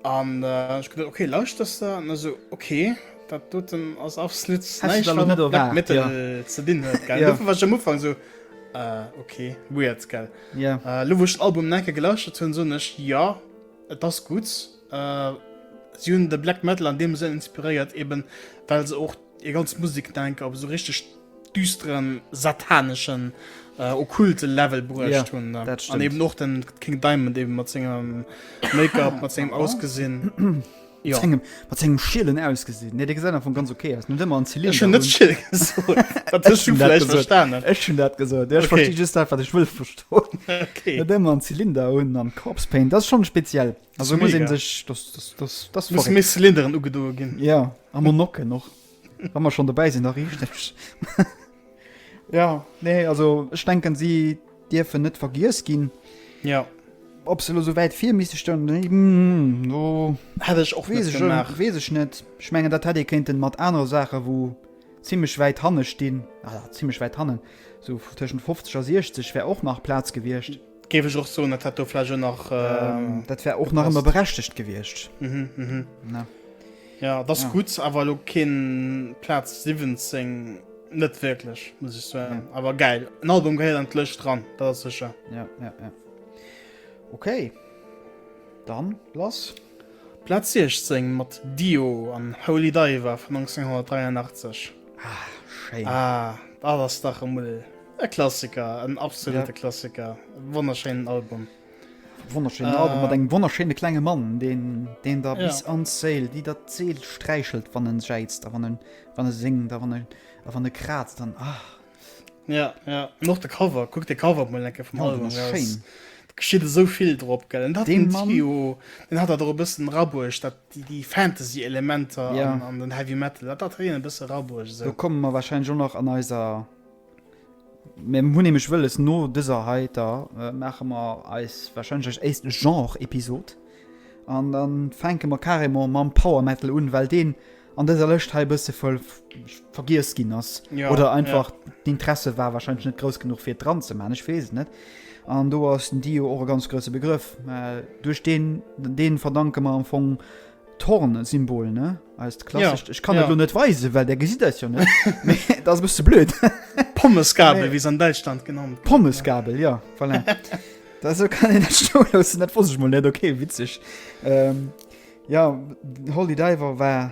An ech geduet, ok, lauschters de? An e sou, ok, dat doten ass absolut näischt, wat mat Black Metal ze dinn huet, gell? Dofir war ech am Ufank esou, ok, weird, gell? Elo wou ech den Album en enke gelauschtert hunn, soen ech, jo, et ass gutt. Si hunn de Black Metal an deem Sënn inspiréiert, eben well se och Hir ganz Musek denke op esou richteg düsteren, sataneschen, okkulte Level bruecht hunn. An eben och de King Diamond eben mat sengem Make-up, mat sengem Ausgesinn. Mat sengem, mat sengem schielen Ausgesinn. Nee, dee gesäit am Fong ganz ok aus. Net ëmmer en Zylinder un. Ech hunn net schiel gesot. Dat hues du vläicht verstanen. Ech hunn dat gesot. Ech versti just dat, wat ech wëll verstoen. Net ëmmer en Zylinder un an Corpse Paint. Dat ass schonn speziell. Also muss een sech dat muss méi Cylinderen ugedoe ginn. Ja a mer Nocken och Wa mer schonn dobäi sinn da richteg. Ja nee also ech denken si dierfen net vergiess ginn. Jo. Ob se elo sou wäit vir misste stoungen, déi no hätt ech och net gemaach. Weess ech net. Ech mengen dat hätt ee kéinten mat anere Saache wou zimmlech wäit hanne stinn, ah zimmlech wäit hannen, sou tëschent 50 a 60 wär och nach Plaz gewiescht. Géif ech och soen, dat hätt do vläicht och nach. Dat wär och nach ëmmer berechtegt gewiescht. Jo, et ass gutt, awer elo keen Plaz 17 net wierklech, muss ech soen. Awer gäil, en Album gehéiert an d'Lëscht dran, dat ass sécher. Jo, jo, jo. Ok, dann lass. Plaz 16 mat Dio an Holy Diver vun 1983. Ah, schéin. Ah, dat ass dach emol. E Klassiker, en absolute Klassiker. Wonnerschéinen Album. Wonnerschéinen äh, Album mat engem wonnerschéine klenge Mann, den, den da bis ja. an Sail, déi dat Zeel sträichelt, wann en jäizt, wann en, wann e singt, wann e, wann e krazt, dann ach. Ja, ja. Noch de Cover, kuck de Cover op Molenke vum ja, Album. Schéin. Geschiet esou vill drop gell. Dat den Mann, Trio, den hat dat er e bëssen rabuech, dat déi, déi Fantasy-Elementer ja. an, an den Heavy Metal, dat dat hien e bësse rabuech. So. Da kommen mer wahrscheinlich schon nach an eiser Mir hunn nämlech wëlles, no dëser heiter maache mer eis wahrscheinlech éischt Genre-Episod an da fänke mer carrément mam Power Metal un, well deen an dëser Lëscht hei e bësse vergiess ginn ass oder einfach d'Interesse war wahrscheinlech net grouss genuch, fir et dran ze maachen. Ech weess et net. An do ass den Dio och e ganz grousse Begrëff. Duerch deen, dee verdanke mer am Fong d'Horn-Symbol, ne? Eist klassischt, ja, ich kann ja. das nicht weisen, weil der gesieht das ja nicht. das ist ein bisschen blöd. Pommesgabel, nee. wie es an Deutschland genannt wird. Pommesgabel, ja, voilà. das so kann ich nicht stehen lassen, das wusste ich mal nicht, okay, witzig. Ähm, ja, Holy Diver war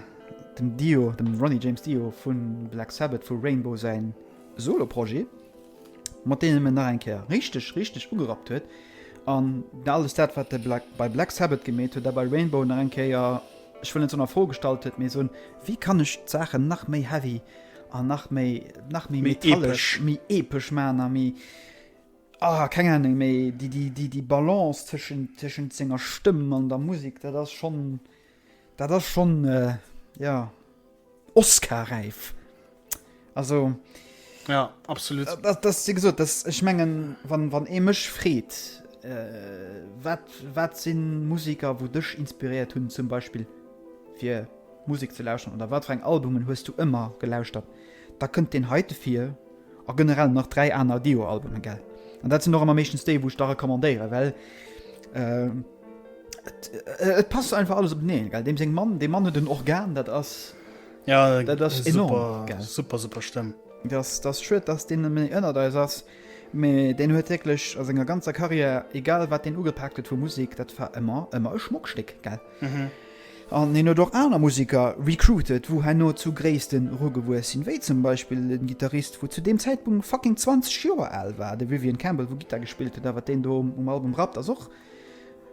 dem Dio, dem Ronnie James Dio von Black Sabbath, von Rainbow sein Solo-Projekt. mat deenen en nach eng Kéier richteg, richteg ugerappt huet, an alles dat, wat e bei Black Sabbath gemeet huet, dat bei Rainbow nach eng Kéier, ech wëll net soen a Fro gestallt huet, mee soen, wéi kann ech d'Saachen nach méi heavy an nach méi, nach méi metallesch, méi epesch maachen a méi, ah, keng Ahnung, mee déi, déi, déi Balance tëschent, tëschent senger Stëmm an der Musek, dat ass schonn. Dat ass schonn, jo, Oscar-räif. Also. Jo, absolut. Dat ass, wéi gesot, dat, ech mengen, wann, wann ee mech freet, wat, wat si Musiker, wou dech inspiréiert hunn, zum Beispill, fir Musek ze lauscheren oder wat fir eng Albumen hues du ëmmer gelauschtert, da kënnt deen heite vir. A generell nach 3 aner Dio-Albumen, gell? An dat sinn och ëmmer meeschtens déi, wou ech da recommandéieren, well et, et passt einfach alles openeen, gell? Deem seng Mamm, dee Mann huet en Organ, dat ass, dat ass enorm, gell? Super, super, super, super Stëmm. Dat ass, dat ass schued, dass deen net méi ënnert eis ass, mee deen huet wierklech a senger ganzer Karriär, egal wat deen ugepaakt huet vu Musek, dat war ëmmer, ëmmer e Schmockstéck, gell? An hien huet och aner Museker recruited, wou herno zu Gréisste rugewuess sinn, wéi zum Beispill de Gittarist, wou zu deem Zäitpunkt fucking 20 Joer al war, de Vivian Campbell, wou Gittar gespillt huet. A wat deen do um Album rappt, ass och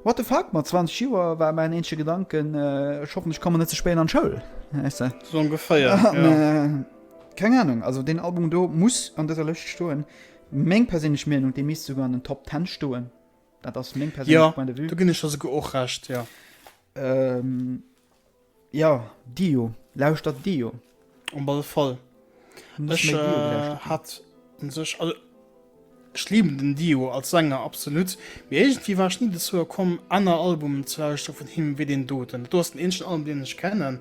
what the fuck. Mat 20 Joer war mäin eenzege Gedanken, ech hoffen, ech kommen net ze spéit an d'Schoul, wäiss de. Sou ongeféier, jo. Keng Anung. Also deen Album do muss an dëser Lëscht stoen. Meng perséinlech Meenung, dee misst souguer an den Top Ten stoen. Dat ass meng persönlech Point de vue. Ja, do ginn ech der souguer och Recht, ja. Ähm, ja, Dio. Lauschtert Dio. Op alle Fall. Ech hat un sech, also ech liben den Dio als Sänger absolut, mee iergendwéi war ech ni dozou komm aner Albumen ze lauschteren vun him wéi deen doten. Dat do ass den eenzegen Album deen ech kennen,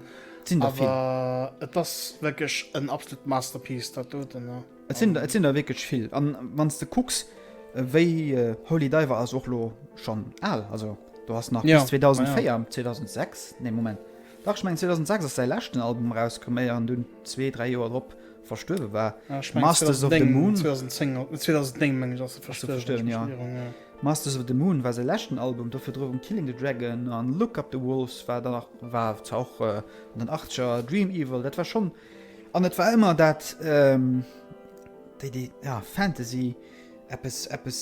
awer et ass wierklech en absolut Masterpiece dat doten. Et sinn der, et sinn der wierklech vill. An wann s de kucks, wéi, Holy Diver ass och lo schonn al. Also do ass nach bis 2004, 2006, nee Moment, dach ech mengen 2006 ass säi leschten Album erauskomm, éier en dunn zwee, dräi Joer drop verstuerwe war. Masters of the Moon, 2009 meng ech ass e verstuerwen, jo. Masters of the Moon war säi leschten Album, do virdrun Killing the Dragon an Look Up the Wolves war dann nach, war zwar och an den Achtzeger, Dream Evil, dat war schonn. An et war ëmmer dat, déi, déi, ja, Fantasy, eppes, eppes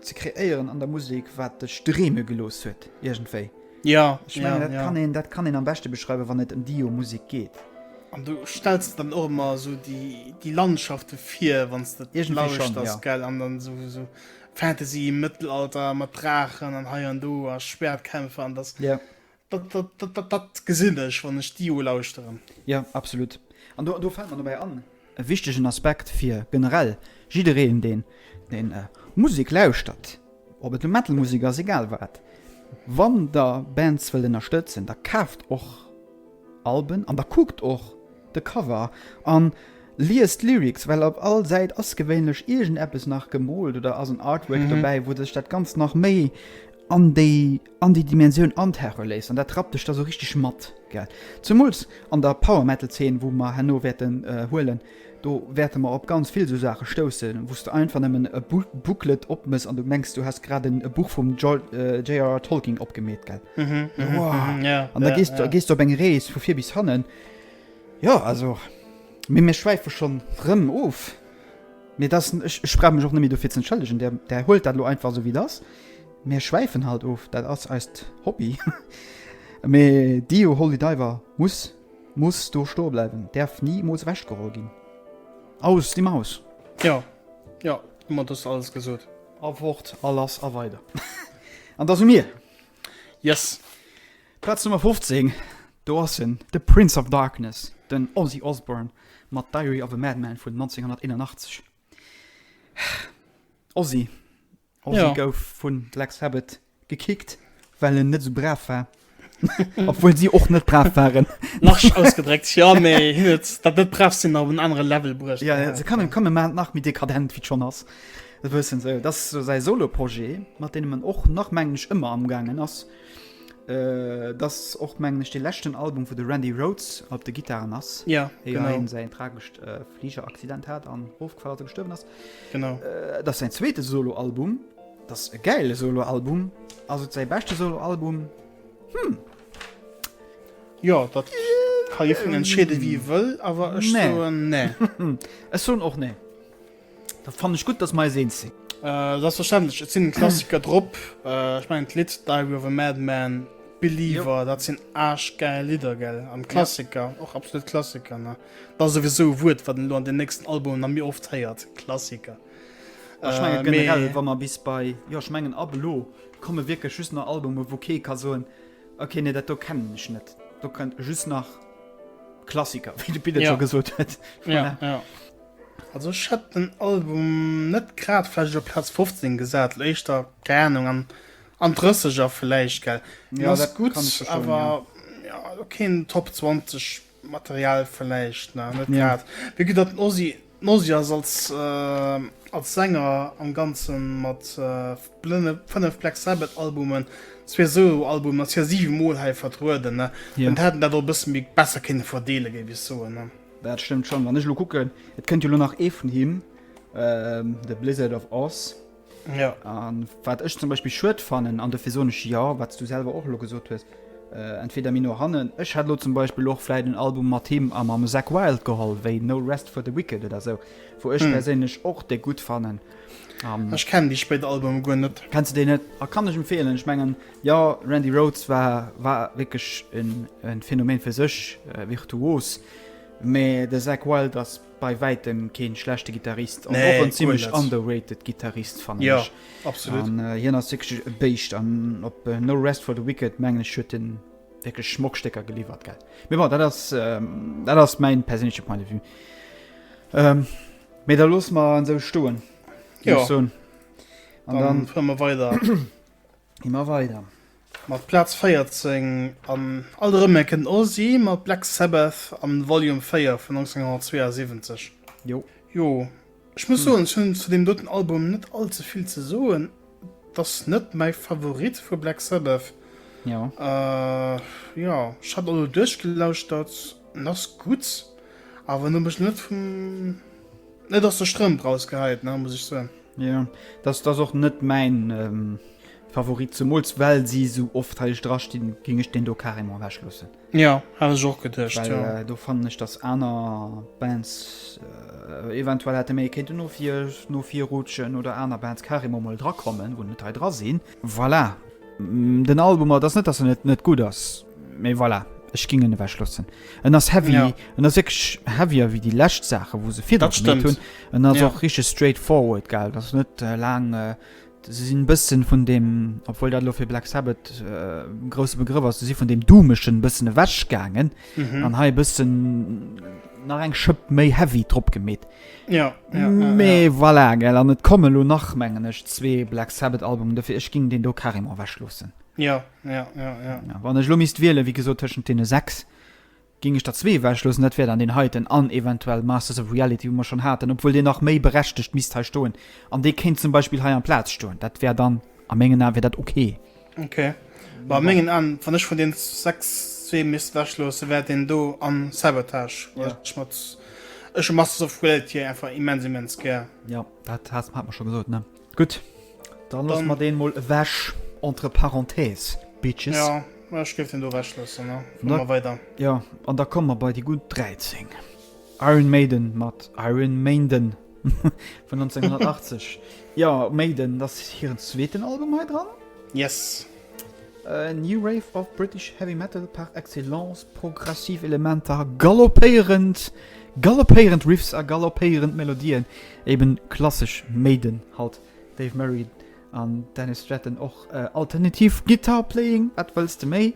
ze kreéieren an der Musek, wat dech dreeme gelooss huet, iergendwéi. Jo, jo, jo. Ech mengen, dat kann een, dat kann een am beschte beschreiwen, wann et ëm Dio Musek geet. An du stells der dann och ëmmer esou déi, déi Landschafte vir, wann s de et lauschters, gell? An dann esou, esou Fantasy, Mëttelalter mat Draachen an hei an do a Schwäertkämpfer an dass, Dat gesinn ech, wann ech Dio lauschteren. Jo, absolut. An do fällt mer dobäi an, e wichtegen Aspekt fir generell jiddereen, deen Musek lauschtert, ob et nu Metal-Musek ass, egal wat, Wann Der Bands wëllt ënnerstëtzen, da kaaft och Alben an da kuckt och de Cover a liest d'Lyrics, well op all Säit ass gewéinlech iergendeppes nach gemoolt oder ass en Artwork dobäi, wou sech dat Ganzt nach méi an déi. an déi Dimensioun an d'Hare léisst an dat rappt dech da sou richteg mat, gell? Zemools an der Power Metal Zeen wou mer herno wäerten huelen, do wäerte mer op ganz vill sou Saache stoussen wou s de einfach nëmmen e Booklet opmëss an du mengs du häss grad e Buch vum JRR Tolkien opgemeet, gell? Wow! An da gees du, gees du op eng Rees vu vir bis hannen, jo also, mee mir schwäife schonn rëm of, mee dat, ech brauch mech och net méi dofir z'entschëllegen, der huelt dat elo einfach esou wéi et ass. Mir schwäifen halt of, dat ass eist Hobby. Mee Dio Holy Diver muss muss do stoe bleiwen, däerf nimools ewechgeholl ginn. Aus déi Maus! Jo, jo, domat hues de alles gesot. A fort, a lass, a weider. An da si mir! Yes! Plaz Nummer 15, do ass en, de Prince of Darkness, den Ozzy Osbourne mat Diary of a Madman vun 1981. Ozzy, Ozzy ja. gouf vun Black Sabbath gekickt, well en net sou brav war. Obwohl sie och net brav waren. nach ausgedréckt ja méi hin et dat net brav sinn op en anere Level bruecht. Ja, ja, se kann kann man nach mit dekadent wie schon ass. Dat wëssen se. Dat ass säi Solo-Projet, mat deem en och nach mengen ech ëmmer amgaangen ass. Äh, dat ass och mengen ech dee leschten Album, wou de Randy Rhoads op de Gittaren ass. Ja, Eer genau. hien säin tragescht äh, Fligeraccident hat an ofgefall ass, gestuerwen ass. Genau. Äh, das ist sein zweites Soloalbum. Das ist ein geiles Soloalbum. Also sein bestes Soloalbum. Hm. Ja, das kann ich von entscheiden, wie ich will, aber ich nee. so, nee. ich so auch nee. Da fand ich gut, dass wir sehen sind. Äh, das ist verständlich. Es sind Klassiker drauf. Äh, ich meine, das Lied Diary of a Madman, Believer, jo. das sind arschgeile Lieder, gell? Am Klassiker, ja. auch absolut Klassiker, ne? Dat ass souwisou e Wuert, wat een elo an den nächsten Albumen nach méi oft héiert, Klassiker. Mä ech mengen generell, wa mer bis bei, jo, ech mengen ab elo komme wierklech just nach Albumen, wou kee ka soen, okay, nee, dat do kennen ech net. Do kënnt just nach Klassiker, wéi de Pit et scho gesot huet. Voilà. Ja, ja. Also ech hätt den Album net grad vläicht op Plaz 15 gesat, éischter, keng Anung, an an d'Drësseger vläicht, gell. Hien ass gutt, awer, jo, elo keen Top 20 Material vläicht nach net grad. Mee gutt, datt den Ozzy ass als Sänger am Ganze mat fënnef Black Sabbath Albumen, zwee Solo Albumen a sir siwe Mol hei vertrueden, dann hätt en dat och e bësse méi besser kënne verdeele géif ech soen. Dat stëmmt schonn. Wann ech elo kucken, et kënnt jo elo nach ee vun him, de Blizzard of Ozz. Ja. An wat ech zum Beispill schued fannen, an dofir soen ech jo, wat s du selwer och elo gesot hues, entweder méi no hannen, ech hätt elo zum Beispill och vläit en Album mat him a mam Zakk Wylde geholl, wéi No Rest for the Wicked oder esou, wou ech perséinlech och dee gutt fannen. Ech kennen déi spéit Albume guer net. Kenns de déi net? A kann ech empfeelen. Ech mengen, jo, Randy Rhoads war war wierklech en Phänomen fir sech, virtuos, mä de Zakk Wylde ass. Bei wäitem keen schlechte Gitarrist an och en zimlech underrated Gitarrist fannen ech. An hien ass wierklech e Béischt an op No Rest for the Wicked mengen ech huet en wierklech schmock Stécker geliwwert gell. Mee bon dat ass dat ass mäin perséinleche Point de vue. Mee da loosse mer en esou stoen, géif ech soen. An dann fuere mer weider. Ëmmer weider. Mat Plaz 14 an alt erëm eng kënnt Ozzy mat Black Sabbath an Volume 4 vun 1972. Jo. Jo, ech muss soen, ech hunn zu deem doten Album net all ze vill ze soen. Et ass net mäi Favorit vu Black Sabbath. Jo. Jo, ech hat elo duerchgelauschtert, en ass gutt, awer en huet mech net vum. Net aus der Strëmp raus geheit ne muss ech soen. Ja dass dass och net mäin ähm, Favorit zemools well si sou oft heileg dra stinn, géing ech deen do carrément ewech loossen. Ja hat ech och geduecht well ja. äh, do fannen ech dass aner Bands äh, eventuell hätte méi kéinten no vir no vir rutschen oder aner Bands carrément mol drakommen wou net hei dra sinn. Voilà, den Album, dat ass net dass en net net gutt ass, Mais voilà, ech ging en ewech lossen. En ass heavy, ja. en ass wirklich heavier wie die lescht Sache, wo se fir dat stimmt hun. En ass ja. auch richtig straight forward geil, das net äh, lang. Äh, se sinn bëssen vun dem obwohl dat lo fir Black Sabbath äh, grosse Begriff ass si vun dem dumeschen bëssen ewäsch gaangen mhm. an hai bëssen nach eng schëpp méi heavy trop gemet ja, ja, méi ja, ja. voilà, gell an net komme lo nach mengen ech zwee Black Sabbath Album defir ech ging den do karim aweschlossen Ja, ja, ja, ja. ja wann ech lo misst wielen, wie gesot tëschent deene sechs, ging ech der zwee wechlosen, dat wär dann den heiten an eventuell Masters of Reality, wo mer schon haten, obwohl dee nach méi berechtigt misst hei stoen. An dee kéint zum Beispiel hei am Platz stoen. Dat wär dann a mengen Ae wär dat okay. Okay. Bei mengen an wann ech vun den sechs zwee misst wechlose wär den do an Sabotage ja. schmatz. Ech Masters of Reality einfach immens immens gär. Ja, dat hat hat man schon gesot ne. Gutt, dann loosse mer deen mol ewech, entre parenthèses, Bitches. Jo, ech géif deen do ewech loossen a fu mer weider. Jo, an da komme mer bei déi gutt 13. Iron Maiden mat Iron Mainden vun 1980. Jo, Maiden, dat ass hiren zweeten Album hei dran. Yes. New Wave of British Heavy Metal par excellence, progressiv Elementer, galoppéierend galoppéierend Riffs a galoppéierend Melodien, eben klassesch Maiden halt, Dave Murray an Dennis Stratton och alternativ Guitar Playing, wat wëlls de méi?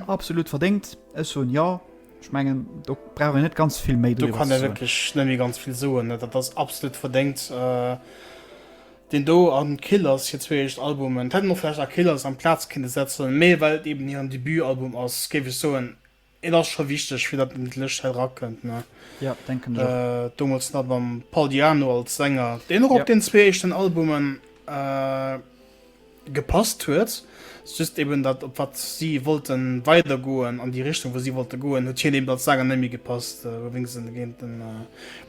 Absolut verdéngt, ech soen jo, ech mengen do brauch een net ganz vill méi driwwer ze soen. Do kann ee wierklech net méi ganz vill soen, dat ass absolut verdéngt. deen do an Killers hir zwee éischt Albumen, et hätt een och vläicht A Killers amplaz kinne setzen, mee well et eben hiren Debutalbum ass, géif ech soen, et ass scho wichteg fir datt en an d'Lëscht hei dra kënnt, ne? Jo, denken ech och. Domols nach mam Paul Di'Anno als Sänger, deen och op den zwee éischten Albumen. gepasst huet, just eben dat op wat si wollte weider goen, an déi Richtung wou si wollte goen, huet hien eben als Sänger net méi gepasst, wouwéinst se en géint den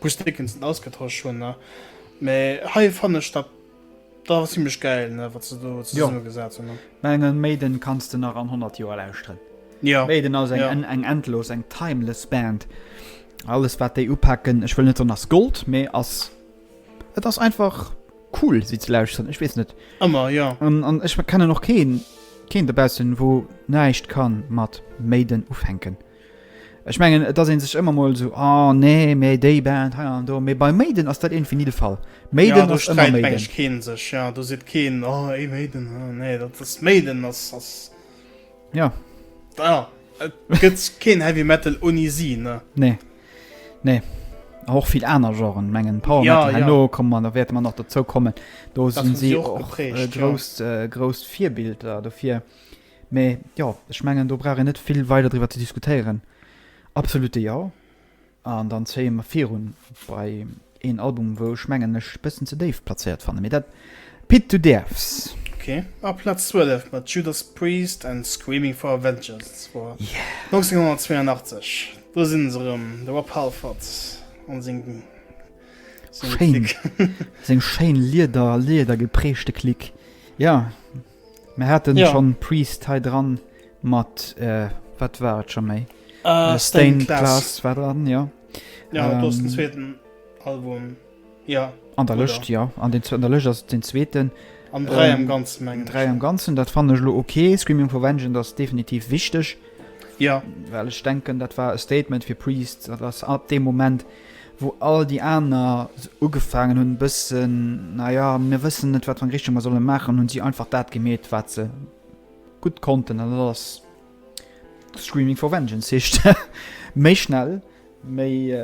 Bruce Dickinson ausgetosch hunn ne, mee hei fannen ech dat da zimmlech gäil ne wat se do zesumme gesat hunn ne. Mengen Maiden kanns de nach an 100 Joer lauschteren. Maiden ass eng endlos, eng timeless Band, alles wat déi upaken, ech wëll net soen ass Gold, mee ass Et ass einfach cool si ze lauschteren, ech weess net. Ëmmer jo. An an ech kennen och keen keen dobaussen wou näischt kann mat Maiden ufänken. Ech mengen et ass een sech ëmmer mol sou ah nee mee déi Band hei an do, mee bei Maiden ass dat iergendwéi ni de Fall. Maiden ass ëmmer Maiden. Jo do sträit mengen ech keen sech, jo do seet keen oh ey Maiden oh nee dat ass Maiden ass ass Jo. Jo et gëtt keen Heavy Metal ouni si ne. Nee. Nee och vill aner Genren mengen Power ja, Metal, ja. no kom man da wäerte man nach dozou kommen. Do sinn si och geprägt, äh, grousst ja. äh, grousst Virbilder dofir. Mee ja ech mengen do brauch en net vill weider driwwer ze diskutéieren. Absolute ja an dann zéie mer virun bei Een Album wou ech mengen ech e bëssen ze déif plazéiert fannen, mee dat Pit du däerfs. Ok, a Platz 12 mat Judas Priest an Screaming for a Vengeance, dat war 1982, do sinn se erëm, de Rob Halford an seng Clique. Seng schéin lieder, lieder geprägte Clique, jo. Mir hatten ja. schon Priest hei dran mat äh, wat war et schon méi uh, Stain Class war dran ja, ja ähm, den zweiten Album ja an der Lëcht ja an den der Lëcht ass den zweeten an drei ähm, am ganzen mengen drei am ganzen dat fan lo okay Screaming for Vengeance das definitiv wichtig ja well ich denken dat war e Statement fir Priest dat ass ab dem Moment wou all déi aner sou ugefaangen hunn, e bëssen, na ja, mir wëssen net, wat fir eng Richtung mer solle maachen, hu si einfach dat gemeet, wat se gutt konnten, an dat ass Screaming for Vengeance heescht. Méi schnell, méi,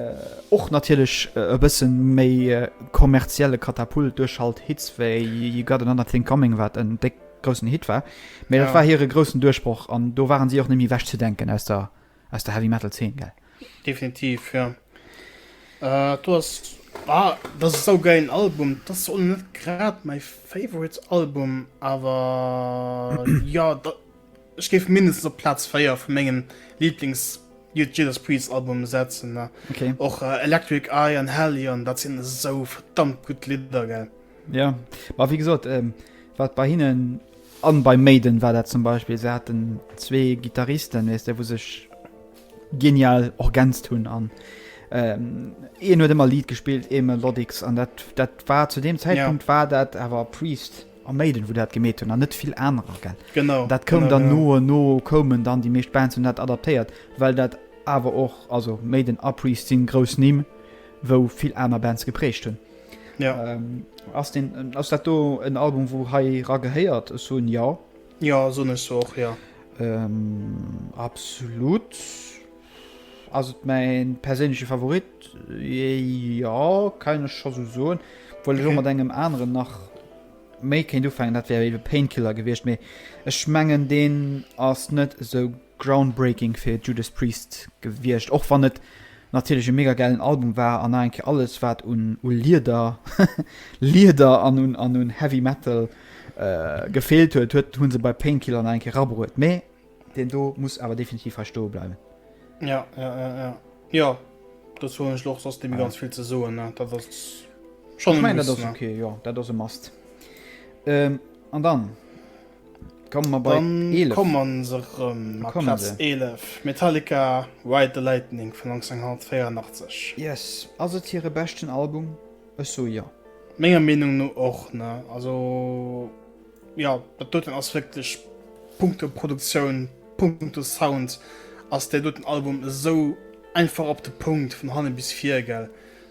och natierlech e bësse méi kommerzielle Katapult duerchhalt Hits wéi You Got Another Thing Coming, wat en déck groussen Hit war, mee dat war hire groussen Duerchbroch, an do ware si och net méi ewechzedenken aus der. aus der Heavy Metal Zeen gell? Definitiv jo, do ass ah dat ass saugäilen Album, dat ass och net grad mäi favorite Album, awer jo dat ech géif mindestens op Platz 4 vu mengem Lieblings Judas Priest Album setzen ne, okay. Och äh, Electric Eye an Hellion, dat sinn esou verdammt gutt Lidder gell. Ja, ma wéi gesot, ähm, wat bei hinnen An bei Maiden war dat zum Beispill, se haten zwee Gittaristen, weess de, wou sech genial orgänzt hunn an een huet ëmmer Lead gespillt, ee Melodics an dat dat war zu deem Zäitpunkt war dat awer Priest a Maiden, wou dat gemeet hunn an net vill anerer, gell? Genau. Dat koum dann no an no koumen dann déi meescht Bands hunn dat adaptéiert, well dat awer och, also Maiden a Priest si grouss Nimm, wou vill aner Bands geprägt hunn. Ja. Ähm, ass, den, ass dat do en Album, wou hei ra gehéiert? Ech soen ja. Ja, soen ech och, ja. Ähm, absolut. Ass et mein perséinleche Favorit? Ja, kann ech scho so soen. Obwohl ech okay. mat engem anderen nach méi kéint ufangen, dat wär iwwe Painkiller gewiescht, mee ech mengen, deen ass net esou Groundbreaking fir Judas Priest gewiescht, och wann et natierlech e mega gäilen Album war an nach eng Kéier alles wat un Lieder Lieder an un an un Heavy Metal gefeelt huet, huet hu se bei Painkiller nach eng Kéier erabruet. Mee deen do muss awer definitiv hei stoe bleiwen. Jo, jo, jo, jo. Jo, dozou hunn ech lo och soss net méi ganz vill ze soen, ne. Dat ass schonn e Muss, ne. Ech mengen dat ass ok, jo, dat ass e Must. An dann. Komme mer bei 11. Dann komme se rëm mat Plaz 11, Metallica, Ride the Lightning vun 1984. Yes, ass et hire beschten Album? Ech soe jo. Menger Meenung no och, ne? Also jo, dat doten ass wierklech punkto Produktioun, punkto Sound ass dee doten Album esou einfach op de Punkt vun hanne bis vir, gell?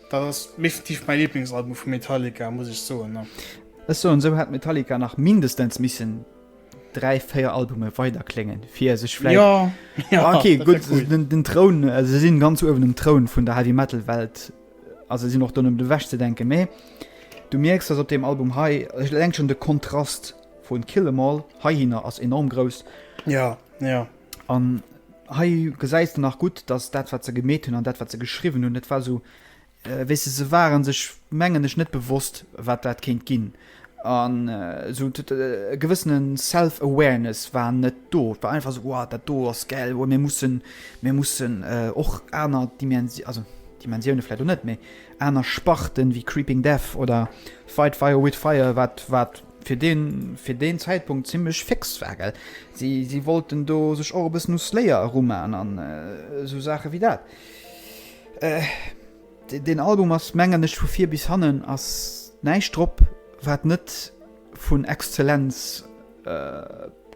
Dat ass definitiv mäi Liblingsalbum vu Metallica, muss ech soen, ja. Ech soen esou, hätt Metallica nach mindestens missen dräi, véier Albume weider kléngen, fir sech vläicht. Jo, jo, Ah, okay, dat wär gutt, cool. den, den Troun, äh, se sinn ganz uewen um Troun vun der Heavy Metal Welt, a se sinn och do net méi ewech ze denken, mä du mierks, datt op deem Album hei, ech eleng schonn de Kontrast vu Kill 'Em All heihinner ass enorm grouss. Ja, ja. An hei gesäis de nach gutt, dass dat wat se gemeet hunn an dat wat se geschriwwen hunn, dat war esou wéi se. Se ware sech mengen ech net bewosst wat dat kéint ginn an esou e gewëssene self awareness war net do. Et war einfach esou, dat do ass gel, mir mussen mir mussen och aner Dimensi also Dimensioune vläit och net, mee aner Sparten wéi Creeping Death oder Fight Fire with Fire wat wat. fir deen fir deen Zäitpunkt zimlech fix war, gell, si si wollten do sech och e bëssen u Slayer erumaan an esou Saache wéi dat. Dee deen Album ass mengen ech vu vir bis hannen ass näischt drop wat net vun Exzellenz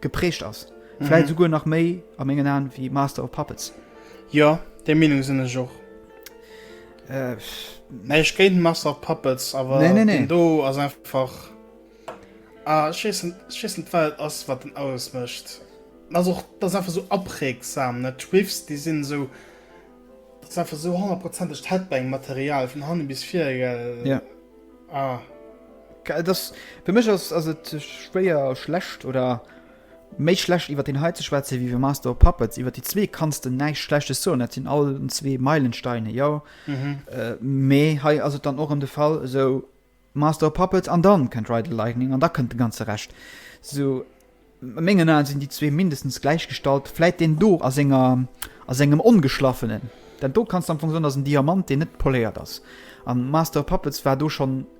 geprägt ass, vläit esouguer nach méi a mengen Aen wéi Master of Puppets. Jo, där Meenung sinn ech och. Nee ech géint Master of Puppets awer nee, nee, nee. den do ass einfach ah, schissen Welt ass wat den alles mëcht. Ass och dat einfach so apregsam net Schwiffs déi sinn so einfach so 100 Headbang Material vun hanne bis vir ja. ah. das, Für mech ass ass et schwéier schlecht oder Méi schlecht iwwert deen hei ze schwätzen wéi iwwer Master of Puppets. Iwwert déi zwee kanns de näischt Schlechtes soen, dat sinn allen zwee Meilensteine, jo. Mee hei ass et dann och erëm de Fall, esou Master of Puppets an dann kënnt Ride the Lightning an da kënnt de ganze Rescht. Esou a mengen Aen sinn déi zwee mindestens gläichgestallt, vläit deen do a senger, a sengem Ongeschlaffenen, dat do kanns de am Fong soen ass en Diamant deen net poléiert ass an Master of Puppets war do schonn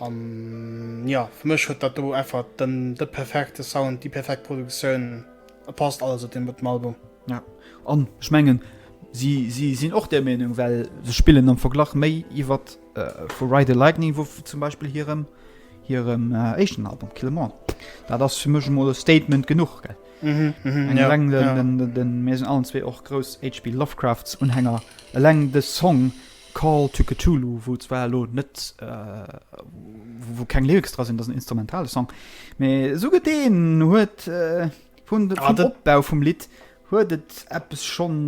An jo, fir mech huet dat do einfach den de perfekte Sound, déi perfekt Produktioun, et passt alles op deem doten Album. Ja, an ech mengen si si sinn och där Meenung, well se spillen am Verglach méi iwwert vu Ride the Lightning wou zum Beispill hirem hirem éischten Album Kill 'Em All. Dat ass fir mech emol e Statement genuch, gell? Mhm, mhm, Eng ja, eleng den, ja. den, den, den, mir sinn allen zwee och grouss HP. Lovecrafts Unhänger, eleng de Song Call to Cthulhu, wou zwar elo net, wou keng Lyrics dra sinn, dat ass en instrumentale Song, mee esou gëtt deen, huet vun de, vum Opbau vum Lidd huet et eppes schonn,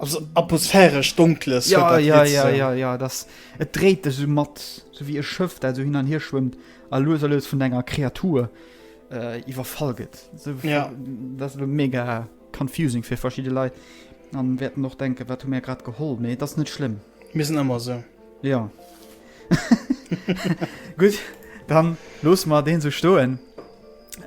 also atmosphäresch Donkles. Jo, jo, jo, jo, jo, dass et dréit dech esou mat, esou wéi e Schëff, dat esou hin an hier schwëmmt a lues a lues vun enger Kreatur iwwerfall gëtt, esou, dass elo mega. Confusing fir verschidde Leit an wäerten och denken wat hu mär grad geholl, mee et ass net schlëmm. Mir sinn ëmmer esou. Jo. Gutt, dann loosse mer deen esou stoen.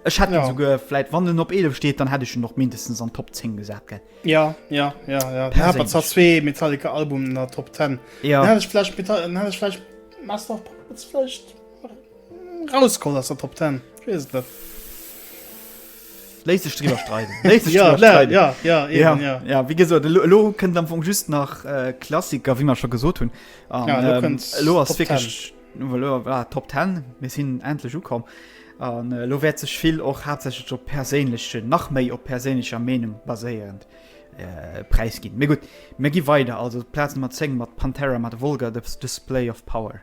Ech hätt jo souguer vläit, wann en op 11 steet, dann hätt ech en och mindestens an d'Top 10 gesat, gell? Ja, ja, ja, ja. Dann hätt mer zwar zwee Metallica-Albumen an der Top 10. Ja. Dann hätt ech vläicht Meta-, dann hätt ech vläicht Master of Puppets vläicht rausgeholl aus der Top 10. Ech weess et net. Léisst sech driwwer streiden. Léisst sech driwwer streiden. Ja, ja, ja, eben, ja. Ja, ja, wéi gesot, elo, elo kënnt am Fong just nach äh, Klassiker, wéi mer scho gesot hunn. An, Ja, elo ähm, kënnt elo ass Top wirklich elo, ah, Top 10, mir sinn endlech ukomm. An äh, elo wäert sech vill och haaptsächlech op perséinlechen, nach méi op perséinlecher Meenung baséierend äh, Präis ginn. Mee gutt, mir gi weider, also Plaz Nummer 10 mat Pantera mat Vulgar Dis- Display of Power.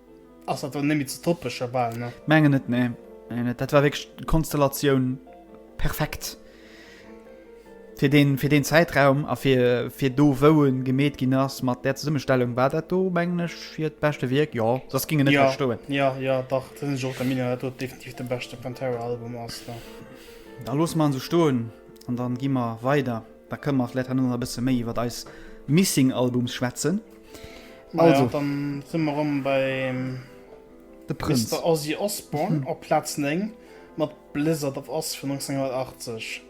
Ass dat dann net méi ze toppen scho bal, ne? Mengen net, nee. Mengen net. Dat war wierklech d'Konstellatioun perfekt fir deen, fir deen Zäitraum a fir, fir do wou e gemeet ginn ass. Mat där Zesummestellung war dat do, mengen ech, fir d'beschte Wierk, jo. Soss ging en net méi stoen. Jo, jo, jo, dach, dat sinn ech och der Meenung, datt dat definitiv de beschte Pantera-Album ass, jo. Da loosse mer en esou stoen an da gi mer weider. Da kënne mer vläicht herno nach e bësse méi iwwer eis Missing-Albums schwätzen. Also. Dann sinn mer rëm beim de Prënz. Mister Ozzy Osbourne op Plaz 9 mat Blizzard of Ozz vun 1980.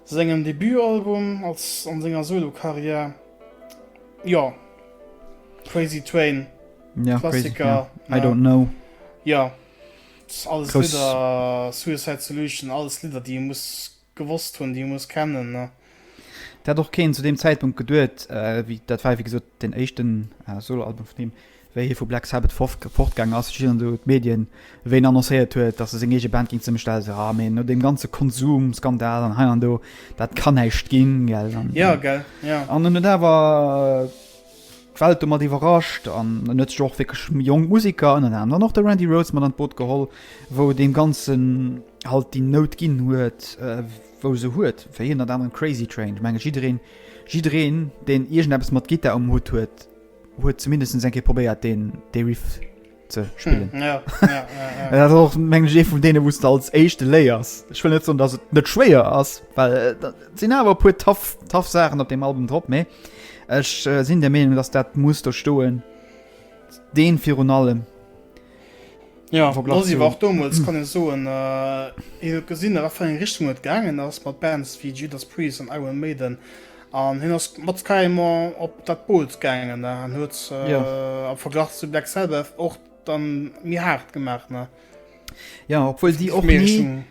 Sengem Debutalbum als an senger Solo-Karriär. Jo, Crazy Train, Klassiker. I Don't Know. Jo, alles Lidder, Suicide Solution, alles Lidder, déi ee muss Gewosst hunn, déi ech muss kennen, ne? Dat hat och keen zu deem Zäitpunkt geduet. Dat war, wéi gesot, deen éischten Solo-Album vun him, wéi hie vu Black Sabbath fortgaangen ass. Ech erinn elo d'Medien, wéi en annoncéiert huet, datt e seng eege Band géing zesummestellen. Ech so, ah, mee no deem ganze Konsum-Skandal an hei an do, dat kann näischt ginn, gell? Jo, gell, jo. An hunn et awer. D'Welt domat iwwerrascht an en huet sech och wierklech jonk Musiker, ënnert anerem och de Randy Rhoads, mat an d'Boot geholl, wou deem Ganzen halt déi Nout ginn huet, wou se huet. Fir hien ënnert anerem Crazy Train. Ech menge jiddereen, jiddereen, deen iergendeppes mat Gittar um Hutt huet, huet zumindest eng Kéier probéiert deen, dee Riff. ze spillen mm, ja, ja, ja, ja. och meng je vun dee wusste als echte Léiers ich will net so dass et net schwéier ass weil äh, sinn awer pu taff taff Sachen op dem Album drop méi Ech äh, sinn der Meinung dass dat muss der stoen den vir un allem Ja, war dommels hm. kann so äh, gesinn nach eng Richtung net gangen ass mat Bands wie Judas Priest an Iron Maiden An hin ass mat Skyrimmer op dat Boot gaangen ne? an huet äh, ja. am Verglach zu Black Sabbath och dann mir hart gemacht ne? Ja obwohl sie och nie,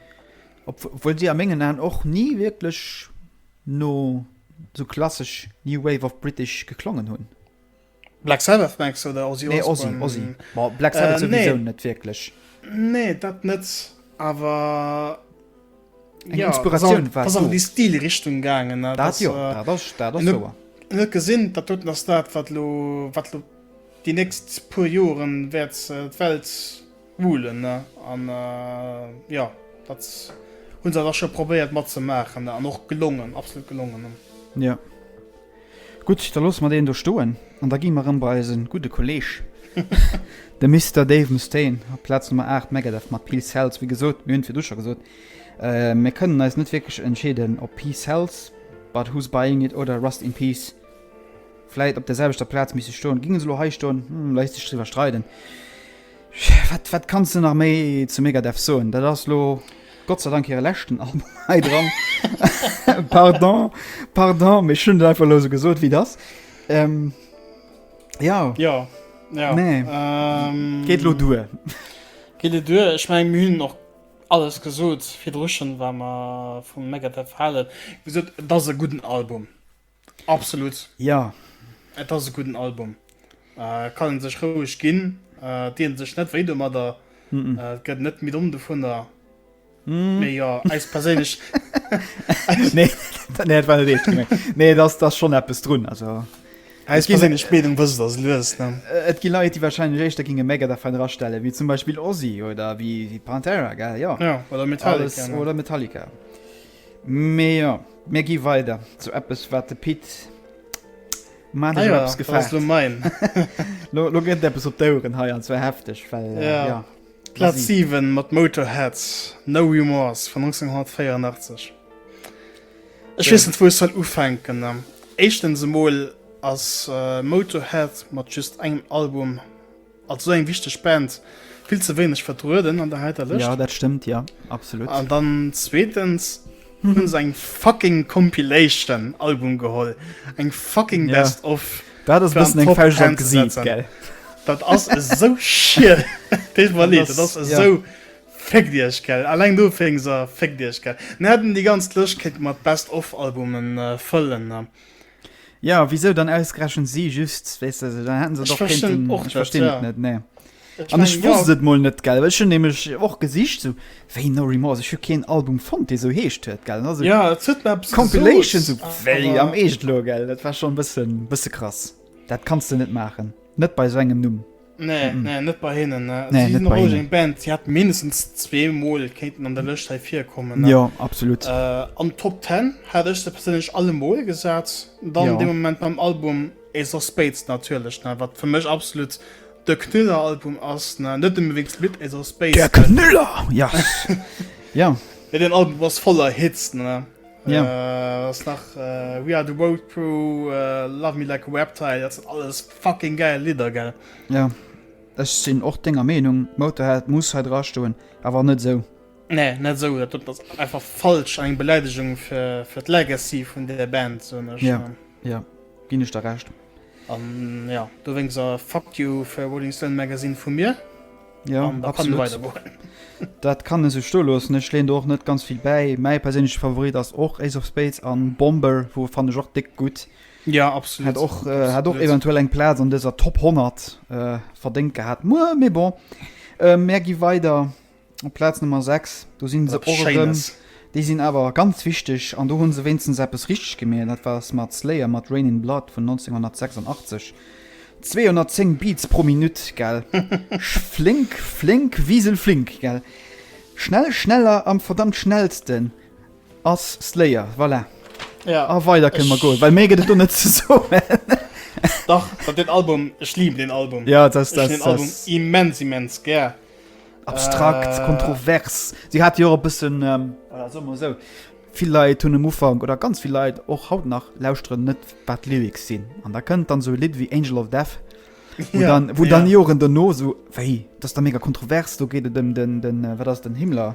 obwohl sie am mengen an och nie wirklich no so klassisch New Wave of British geklongen hunn. Black Sabbath mengst du oder Ozzy Osbourne? Nee, Ozzy, Ozzy. Ma Black Sabbath äh, sowieso nee. net wierklech. Nee, dat net, awer eng ja, Inspiratioun war ass an déi Stilrichtung gaangen. Dat, dat jo, äh, dat ass, dat ass souer. Net gesinn, dat doten ass dat, wat lo, wat lo déi nächst puer Joren wäert äh, d'Welt Woolen ne an jo dat hunn se da scho probéiert mat ze maachen ne an och gelongen absolut gelongen ne. Jo gutt da loosse mer deen do stoen an da gi mer rëm bei eise gudde Kolleeg de Mister Dave Mustaine op d'Plaz Nummer 8 Megadeth mat Peace Sells. Wéi gesot mir hunn et virdru scho gesot mir kënnen eis net wierklech entscheeden op Peace Sells, But Who's Buying It oder Rust In Peace vläit op der selwechter Plaz misste stoen. Ginge se elo hei stoen? Hm léisst sech driwwer streiden. Wat wat kanns de nach méi zu Megadeth soen? Dat ass lo Gott sei Dank hire leschten Album hei dran. Pardon, pardon, mee ech hunn et einfach elo esou gesot, wéi et ass. Ähm, jo. Jo, jo. Mee geet elo duer. Geet elo duer. Ech mengen, mir hunn och alles gesot virdru schonn, wat mer vu Megadeth halen. Wéi gesot, et ass e gudden Album. Absolut. Jo. Et ass e gudden Album. Äh, kann en sech roueg ginn. Äh, et dien sech net wéi domadder. Mm-mm. Äh, et gëtt net méi domm dovunner. Mm. Mee jo, eis perséinlech. Nee, dat- nee, dat war net eescht gemengt. Nee, et ass, et ass schon eppes drun. Also, Eis ginn- perséinlech Meenung wësst ass lues, ne? äh, et gi Leit, déi wahrscheinlech éischter ginge Megadeth fein erastellen, wéi zum Beispill Ozzy oder wéi, wéi Pantera, gell? Jo. Ja, oder Metallica. Alles, ne? oder Metallica. Mee jo, mir gi weider zu eppes wat de Pit maandesch op eppes gefaart huet. Lo gëtt et eppes op d'Oueren hei, an zwar hefteg, well jo. Plaz 7 mat Motorhead, No Remorse vun 1984. Ech weess net wou ech soll ufänken. Éischtens emol ass Motorhead mat just engem Album, Als esou eng wichteg Band vill ze wéineg vertrueden an der heiter Lëscht. Jo, dat stëmmt, jo, absolut. An dann zweetens hunn se eng fucking Compilation Album geholl, eng fucking Best of. Dat ass e bëssen eng Fauscht an d'Gesiit, gell. Dat ass esou schier, deet mer leed, dat ass esou, féckt iech, gell, alleng dofir féckt iech, gell. Mir hätten déi ganz Lëscht kéinte mer Best of Albumen fëllen, Ja wisou dann ausgerechent si just weißt du, dann hätten se doch könnten, och ich verstehe ja. net nee. An ech wosst et moll net gell Ech hun nämlech och gesicht so wéi No Remorse ech hu keen Album fonnt dee sou heescht huet gell also, ja, Compilation so, wéi am Eescht lo gell Dat war schon bësse bësse krass Dat kanns de net maachen net bei sou engem Numm. Nee, nee, net bei hinnen. Nee, si sinn roueg eng Band. Si hat mindestens zwee Mol kéinten an der Lëscht hei virkommen. Jo, absolut. Äh, an Top 10 hat ech se perséinlech alle Mol gesat. Dann jo. de Moment mam Album Ace of Spades natierlech, ne, wat fir mech absolut de Knüller-Album ass. Ne, net nëmme wéinst Lidd Ace of Spades. Der Knüller! Ja. ja. Ja, den Album ass voller Hits, ne. Ja. Äh, ass nach äh, We Are The Road Crew, äh, Love Me Like A Reptile, dat sinn alles Fucking geil Lidder gell? Jo, ech sinn och denger Meenung, Motorhead muss hei dra stoen, awer net esou. Nee, net esou, dat ass einfach falsch an eng Beläidegung fir, fir d'Legacy vun där Band, soen ech. Jo, jo, ginn ech der Recht. An jo, dowéinst a Fuck you fir Rolling Stone Magazine vu mir. Jo, an da kann e weidergoen. Dat kann e sech stoe loossen, ech leeën do och net ganz vill bäi. Mäi perséinleche Favorit ass och Ace of Spades an Bomber, wou fannen ech och déck gutt. Ja, absolut. Hat och, äh, hat och eventuell eng Platz an dëser Top 100 äh, verdéngt gehat. Muer, mé bon. Äh, Mä gi weider op Platz Nummer 6. Do sinn se och erëm. Déi sinn awer ganz wichteg an do hunn se wéinstens eppes richteg gemeet. Dat war Smart Slayer mat Rain in Blood vun 1986. 210 Beats pro Minutt, gell? flink, flink, Wiesel flink, gell? Schnell, schneller am verdammt schnellsten. Ass Slayer, voilà. Ja. A weider kënne mer goen, well méi gëtt et do net ze soen. Dach, wat den Album, ech liiben den Album. Ja, dat ass. Ech hunn den Album immens, immens gär. Abstrakt, äh, kontrovers. Si hat jo och e bëssen, ähm, oder soe mer esou, vill Leit hunn um Ufank oder ganz vill Leit och haut nach lauschteren net, wat d'Lyrics sinn. An da kënnt dann sou e Lidd wéi Angel of Death, wou ja, dann, wou ja. dann Joren dono sou, wéi, dat ass da mega kontrovers, do geet et ëm den, den, äh, wat ass den Himmler?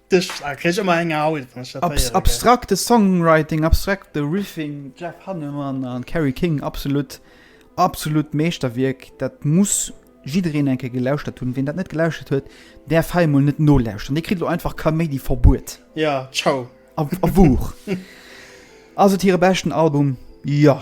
abstrakte Songwriting, abstrakte Riffing, Jeff Hannemann an Carrie King absolut absolut Meeschterwierk, dat muss jiddreen enke gelauschtert hunn, wien dat net gelauschtert huet, där Feimol net nolauscheren. Dir kritt lo einfach Kaméidi verbuet. Ja ciao a Wuuch. Ass et hire beschten Album? Jo.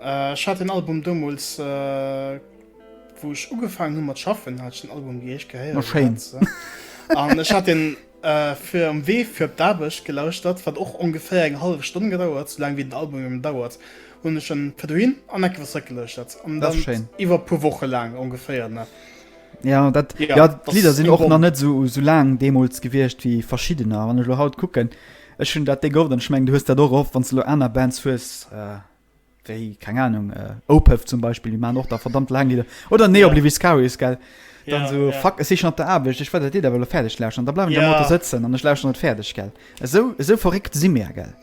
Ech hat den Album domols wou ech ugefaangen hun mat schaffen hat ech den Album wéi ech gehéiert. Ma schéin. An ech hat den fir am Wee fir op d'Aarbecht gelauschtert, wat och ongeféier eng hallef Stonn gedauert, sou laang wéi den Album eben dauert, hunn ech en fir dohin an enke fir zeréck gelueschtert an dann iwwer e puer Woche laang ongeféier ne. Ja dat ja d'Lidder sinn och nach net sou sou laang deemols gewiescht wéi verschiddener. Wann ech elo haut kucken, ech hunn dat Ding of an ech mengen du hues dat och of, wann s de elo aner Bands hues Wéi, keng Ahnung, äh, Opeth zum Beispill, déi maachen och da verdammt laang Lidder. Oder Nee, yeah. Oblivious Cowards, gell? Dann yeah, so, yeah. fuck, ech si schon op der Aarbecht, ech wëll dat Lidd awer elo fäerdeg lauschen. Da bleiwen ech yeah. am Auto sëtzen an ech lauschen et fäerdeg, gell? Esou, esou verréckt si mir, gell?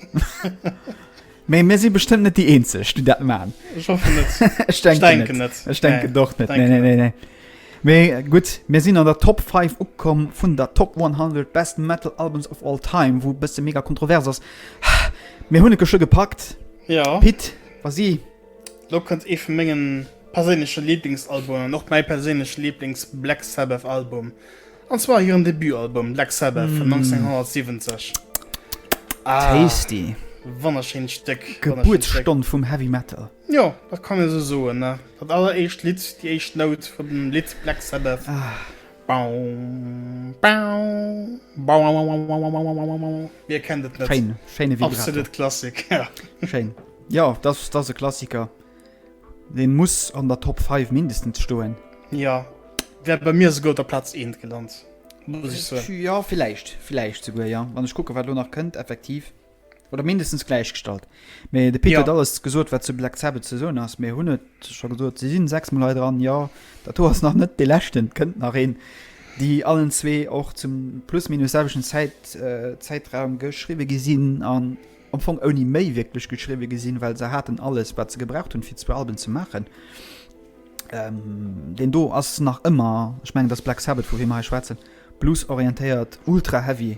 Mee mir si bestëmmt net déi Eenzeg, déi dat maachen. Ech hoffe net. ech denke, denke net. Ech denke nee. doch net. Nee, nee, nee, nee. Mee gutt, mir sinn an der Top 5 ukomm vun der Top 100 Best Metal Albums of All Time, wou bësse mega kontrovers ass. Mir hunn et geschwë gepackt. Jo. Pit, vas-y. Elo kënnt ee vu mengen perséinleche Liblingsalbumen an och mäi perséinleche Liblings Black Sabbath Album, an zwar hiren Debutalbum Black Sabbath vun 1970. Tasty. Wonnerschéint Stéck. Gebuertsstonn vum Heavy Metal. Jo, dat kann ee sou soen. Dat alleréischt Lidd, déi éischt Nout vum Lidd Black Sabbath. Wie kennt et net? Schéin, schéine Vibrato. Absolut Klassik, ja. Schéin. Jo, dat ass e Klassiker. Dee muss an der Top 5 mindestens stoen. Jo, wär bei mir souguer op der Plaz eent gelant, muss ech soen. Jo, villäicht, villäicht souguer, jo. Wann ech kucken, wat elo nach kënnt, effektiv. Oder mindestens gläichgestallt. Mee de Pit ja. huet alles gesot, wat zu Black Sabbath ze soen ass. Mee hunn et scho gesot, se sinn sechs Mol dran ja dat do ass nach net de lächten kënnt nach een, déi allen zwee och zum plus minus selwechten Zäit äh, Zäitraum geschriwe gesinn an am Fong ouni méi wierklech geschriwe gesinn, well se haten alles wat ze gebraucht hunn fir zwee Alben ze machen. Ähm, den do ass nach ëmmer schmengen dass Black Sabbath vu wie mei schwaatzen blues orientéiert ultra heavy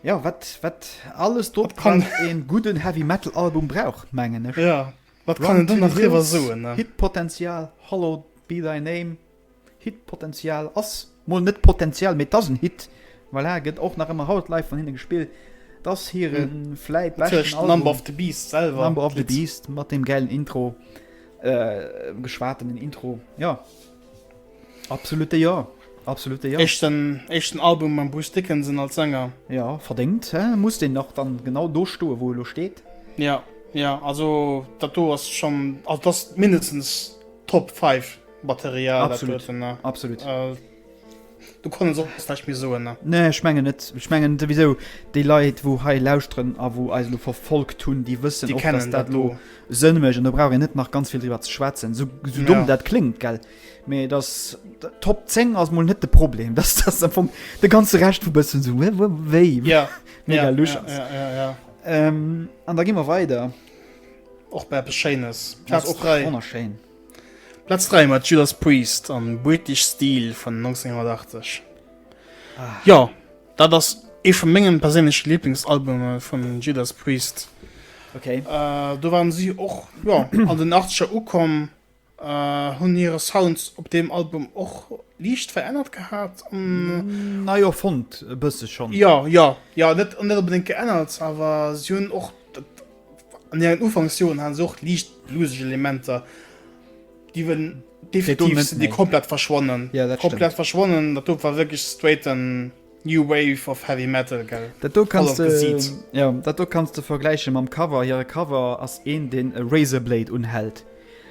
Ja, wat, wat alles do wat kann een gudden Heavy Metal Album brauch mengen ech. Ja, wat kann een do nach drüber soen ne? Hit Potential, Hallowed Be Thy Name, Hit Potential ass mol net Potential, mee et ass en Hit, voilà, gëtt och nach ëmmer haut live vun hinnen gespillt. Et ass hiren hm. vläit beschten Album. Natürlich Number of the Beast selwer. Number of the Beast mat dem gäilen Intro, äh, geschwatenen Intro, ja. Absolute Jo, absolute Jo. Éischten, éischten Album mam Bruce Dickinson als Sänger. Ja, verdéngt, hä? Muss deen nach dann genau do stoen, wou e lo steet? Ja, ja, also dat do ass schon, also dat ass mindestens Top 5 Material, dat huet en, ne? Absolut, absolut. Du konns och vläicht méi soen, ne? Nee, ech mengen net. Ech mengen souwisou, déi Leit, wou hei lauschteren a wou eis elo verfolgt hunn, déi wëssen och, dass dat elo sënnmech, an do brauch een net nach ganz vill driwwer ze schwätzen, sou, sou domm dat kléngt, gell? Mee dass d'Top 10 ass mol net de Problem, dass dass am Fong de ganze Recht vu bëssen sou wé wou wéi Ja, mega ja, lusch ja, ass. ja, ja, ja. Ähm, an da gi mer weider. Och bei eppes Schéines. Ass Platz och 3. wonnerschéin. Platz 3 mat Judas Priest an British Steel vun 1980. Ah. Jo, dat ass ee vu mengen perséinleche Lieblingsalbume vun Judas Priest. Okay. Äh, do waren si och, jo, an den 80er ukomm. Hunn hire Sound op deem Album och liicht verännert gehat. Nei erfonnt e bësse schonn. Jo, jo, jo, net onbedéngt geännert, awer si hunn och an hiren Ufanksjoren hate se och liicht blueseg Elementer, déi ewell definitiv komplett verschwonnen. Komplett verschwonnen, dat do war wierklech straighten. New wave of heavy metal gell? Dat do kanns de, jo, dat do kanns de vergläiche mam Cover. Hire Cover ass een, deen e Razorblade unhält.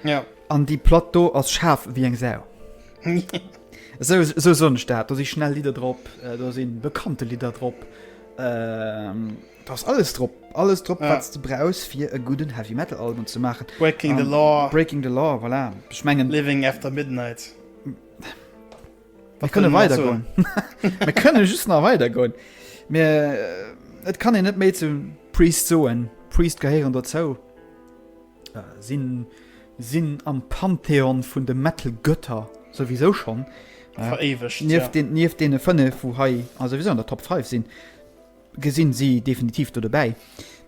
Ja. An déi Platt do ass schaarf ewéi eng Sau. Esou, esou soen ech dat. Do si schnell Lidder drop, do si bekannte Lidder drop. Do ass alles drop. Alles drop, wat s de brauchs, fir e gudden Heavy Metal Album ze maachen. Breaking the Law. Breaking the Law, voilà. Ech mengen. Living After Midnight. Mir kënne weider goen. Mir kënne just nach weider goen. Mir äh, et kann e net méi zum Priest soen. Priest gehéieren dozou. Äh, sinn sinn am Pantheon vun de Metal Götter sowieso schon. Äh, Veréiwegt. Nief ja. den nief dee fënne vu hei a sowieso an der Top 5 sinn. Gesinn si definitiv do dobäi.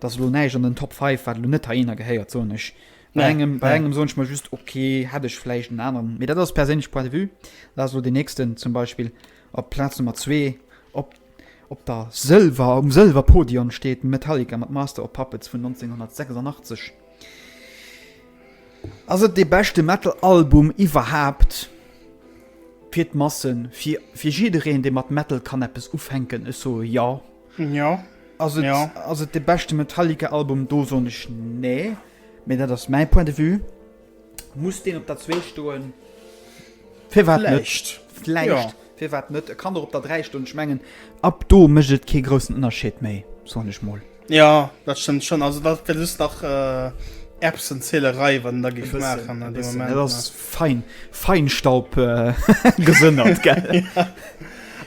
Dat lo näich an den Top 5 wat lo net ha eener gehéiert sonech. Bei engem, bei engem soen ech mal just okay, hätt ech vläicht en aneren. Mee dat ass perséinlech Point de vue. Lass lo den nächsten zum Beispill op Plaz Nummer zwee op op der Sëlwer, um Sëlwerpodion steet Metallica mat Master of Puppets vun 1986. Ass et dee beschte Metal-Album iwwerhaapt? Fir d'Massen, fir, fir jiddereen, dee mat Metal kann eppes ufänken. Ech soe jo. Jo. Ass et, Jo. ass et dee beschte Metallica-Album? Do soen ech nee. Mee dat ass mäi Point de vue. Muss deen op der zwee stoen? Firwat net? Vläicht, firwat net? E kann och op der dräi stoen. Ech mengen, ab do mécht et kee groussen Ënnerscheed méi, soen ech mol. Jo, dat stëmmt schonn. Also dat gëtt just nach Erbsenzählerei, wat en da géif maachen an deem Moment. Dat ass fein, Feinstaub gesënnert, gell?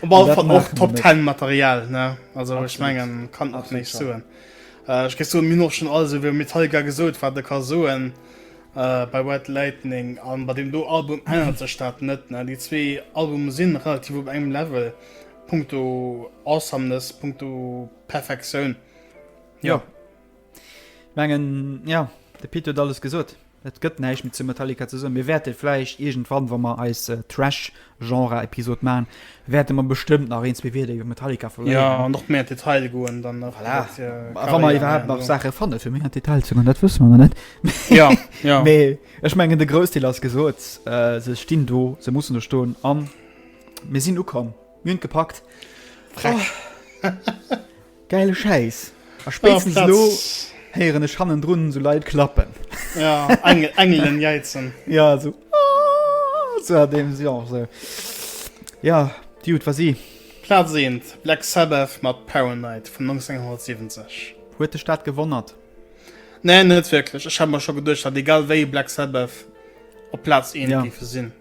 Op alle Fall och Top Ten Material, ne? Also ech mengen, kann nach méi soen. Ech géif soen, mir hunn och schonn alles iwwer Metallica gesot, wat e ka soen bei White Lightning. A bei deem do Album ännert sech dat net. Déi zwee Albume si relativ op engem Level, punkto Awesomeness, punkto Perfektioun. Jo. Mengen, jo, de Pit huet alles gesot. Et gëtt näischt méi zu Metallica ze soen. Mir wäerte vläicht iergendwann, wa mer eis Thrash-Genre-Episod maachen, wäerte mer bestëmmt nach een, zwee Wierder iwwer Metallica verléieren. Jo, an och méi an d'Detail goen dann nach. Voilà. Wat fir Carrière. A wa mer iwwerhaapt nach Saache fanne fir méi an d'Detail ze goen, dat wësse mer nach net. Jo, jo. Mee ech mengen, de Groussdeel ass gesot. Se stinn do, se mussen do stoen a mir sinn ukomm. Mir hunn et gepackt. Freck. Gäile Schäiss! A spéitstens elo héieren ech hannendrun esou Leit klappen. Ja, Engelen jäizen. Ja, esou sou a deem Genre. Jo, déi Jut war si. Plaz 1, Black Sabbath mat Paranoid vun 1970. Huet dech dat gewonnert? Nee, net wierklech. Ech hat mer scho geduecht, datt egal wéi Black Sabbath op Plaz 1 géife sinn.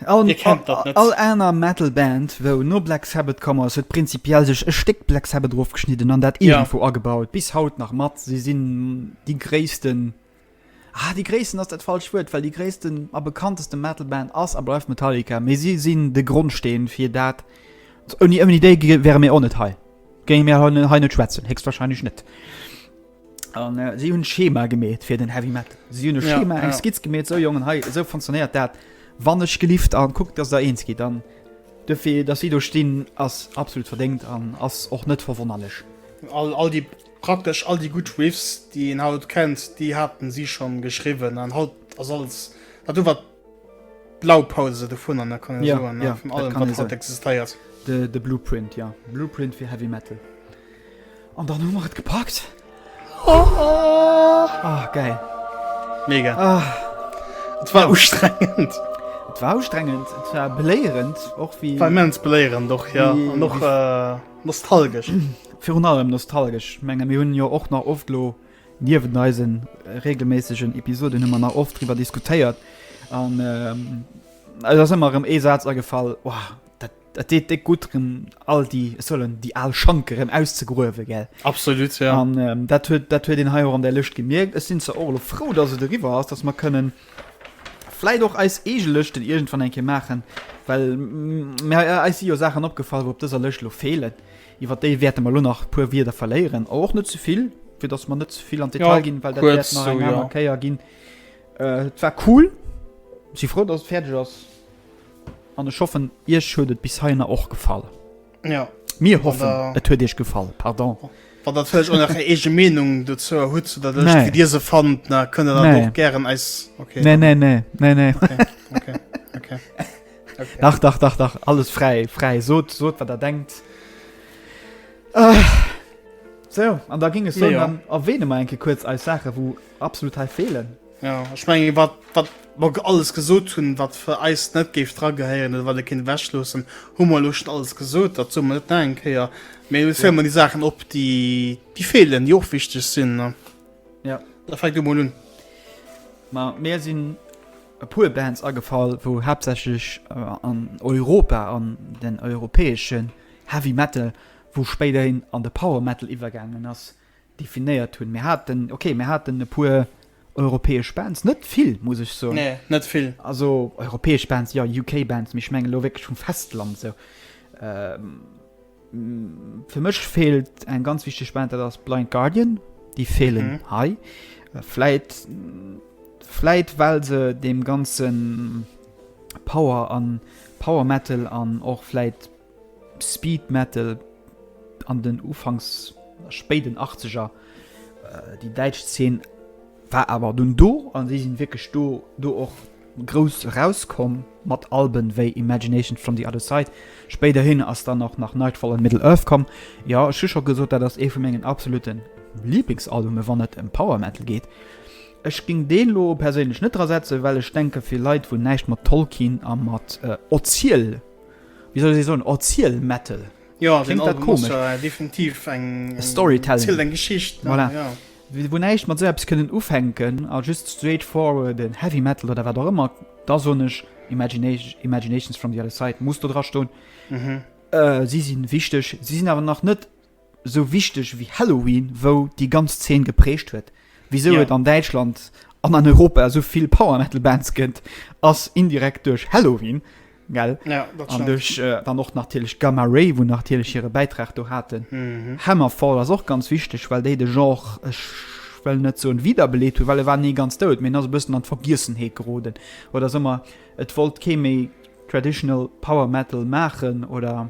Dir kennt dat net? All aner Metal Band wou no Black Sabbath komm ass huet prinzipiell sech e Stéck Black Sabbath erofgeschnidden an dat iergendwou agebaut bis haut nach mat. Si sinn déi gréissten, ah déi gréissten ass dat falscht Wuert, well déi gréissten a bekannteste Metal Band ass a bleift Metallica, mee si sinn de Grondsteen fir dat. Ouni déi wäre mir och net hei, géinge mir hei net schwätzen, héchstwahrscheinlech net. an äh, si hunn Schema gemet fir den Heavy Metal. Si hunn e Ja, Schema eng ja. Skizz gemet, so Jongen hei so funktionéiert dat. Wann ech gelift an guckt, dats der eens gitt an dofir dass si do stinn ass absolut verdéngt an ass och net verwonnerlech. All, all die praktesch all die gut Riffs, die een haut kennt, die haten sie schon geschriwwen an haut ass alles dat do wat Blaupause dovun an der kann ja, soen, ja, vun allem kann wat existéiert de, de Blueprint ja Blueprint fir heavy metal an dann hu mat gepackt oh, oh. Oh, geil mega oh. Et war ustrengend Et war ustrengend et war beléierend och wie mens beléieren doch ja noch äh, nostalgesch virun allem nostalgesch menge mir hunn jo och nach oft lo Niewent eise reegelméissegen Episoden hu mer nach oft driwwer diskutéiert an eis ass ëmmer erëm ee Saz agefall, Ohh, dat deet déck gutt rëm, all déi, ech soen, déi al Schanke rëm auszegruewen, gell? Absolut, jo. An dat huet, dat huet een hei och an där Lëscht gemierkt. Ech sinn zwar och elo frou, dass et eriwwer ass, dass mer kënnen vläicht och eis eege Lëschten iergendwann eng Kéier maachen, well mir, eis si jo Saachen opgefall, wou op dëser Lëscht elo feelen. Iwwer déi wäerte mer elo nach e puer Wieder verléieren, awer och net ze vill, fir datt mer net ze vill an d'Detail ja, ginn, well dat wäert nach eng aner Kéier ginn. Äh, et war cool. Si frou, datt et fäerdeg ass. An ech hoffen, Iech huet et bis heihinner och gefall. Ja. Mir hoffen, da, et huet Iech gefall. Pardon. Oh. Wann dat vëlleg ënner eng eege Meenung dozou hutt zu der Lëscht, wéi Dir se fannt, na kënnt Der dann och gären eis. Okay. Nee, nee, nee, nee, nee. Okay, okay, okay. Okay. Dach, dach, dach, dach, alles frei, frei, sot, sot, wat er denkt. Ah. So, an da ging es so, ja. dann erwähne mal enke kurz als Sache, wo absolut halt fehlen. Ja, ich meine, wat, wat, wat alles gesot hun, wat für Eis net geif dra geheieren, oder wat de Kind wäschlosen, hummer lucht alles gesot, dat so man net denkt, ja. Mir ja. filmen die Sachen op, die, die fehlen, die auch wichtig sind, ne? Ja. Da fängt du mal un. Ma, mehr sind e puer Bands agefall, wou haaptsächlech an Europa, an den europäesche Heavy Metal, wou spéiderhin an de Power Metal iwwergaangen ass, definéiert hunn. Mir haten, okay, mir haten e puer europäesch Bands, net vill, muss ech soen. Nee, net vill. Also europäesch Bands, jo, UK-Bands, mee ech mengen elo wierklech vum Festland esou. Fir mech fehlt eng ganz wichteg Band dat ass Blind Guardian, déi fehlen mhm. hei. Fläit Fläit well se dem ganzen Power an Power Metal an och fläit Speed Metal an den Ufangs spéiden 80er äh, déi däitsch 10 war awer dun do an déi sinn wkeg do do och grouss erauskomm, mat Alben wéi Imagination from the Other Side, spéiderhin ass dann och nach Nightfall an Middle Earth komm. Jo, ech hu scho gesot, dat ass ee vu mengen absolutte Liblingsalbume wann et ëm Power Metal geet. Ech géing dee lo perséinlech net dra setzen, well ech denke fir Leit wou näischt mat Tolkien a mat Oziel, wéi soll ech soen, Oziel Metal, kléngt dat komesch, Storytelling, voilà. Déi wou näischt mat esou eppes kënnen ufänken a just straight forwarden Heavy Metal oder wat och ëmmer, da soen ech Imagination, Imaginations from the other side muss do dra stoen. Si si wichteg, si sinn awer nach net esou wichteg wéi Halloween, wou déi ganz Zeen geprägt huet. Wisou Ja. et an Däitschland an an Europa esou vill Power Metal Bands gëtt, ass indirekt duerch Halloween, gell an duerch dann och natierlech Gamma Ray wou natierlech hire Bäitrag do haten. Hammerfall ass och ganz wichteg, well déi de Genre, ech wëll net soen wiederbeleet hunn, well e war ni ganz dout, mee en ass e bëssen an d'Vergiessenheet geroden oder esou mer, et wollt kee méi traditional Power Metal maachen oder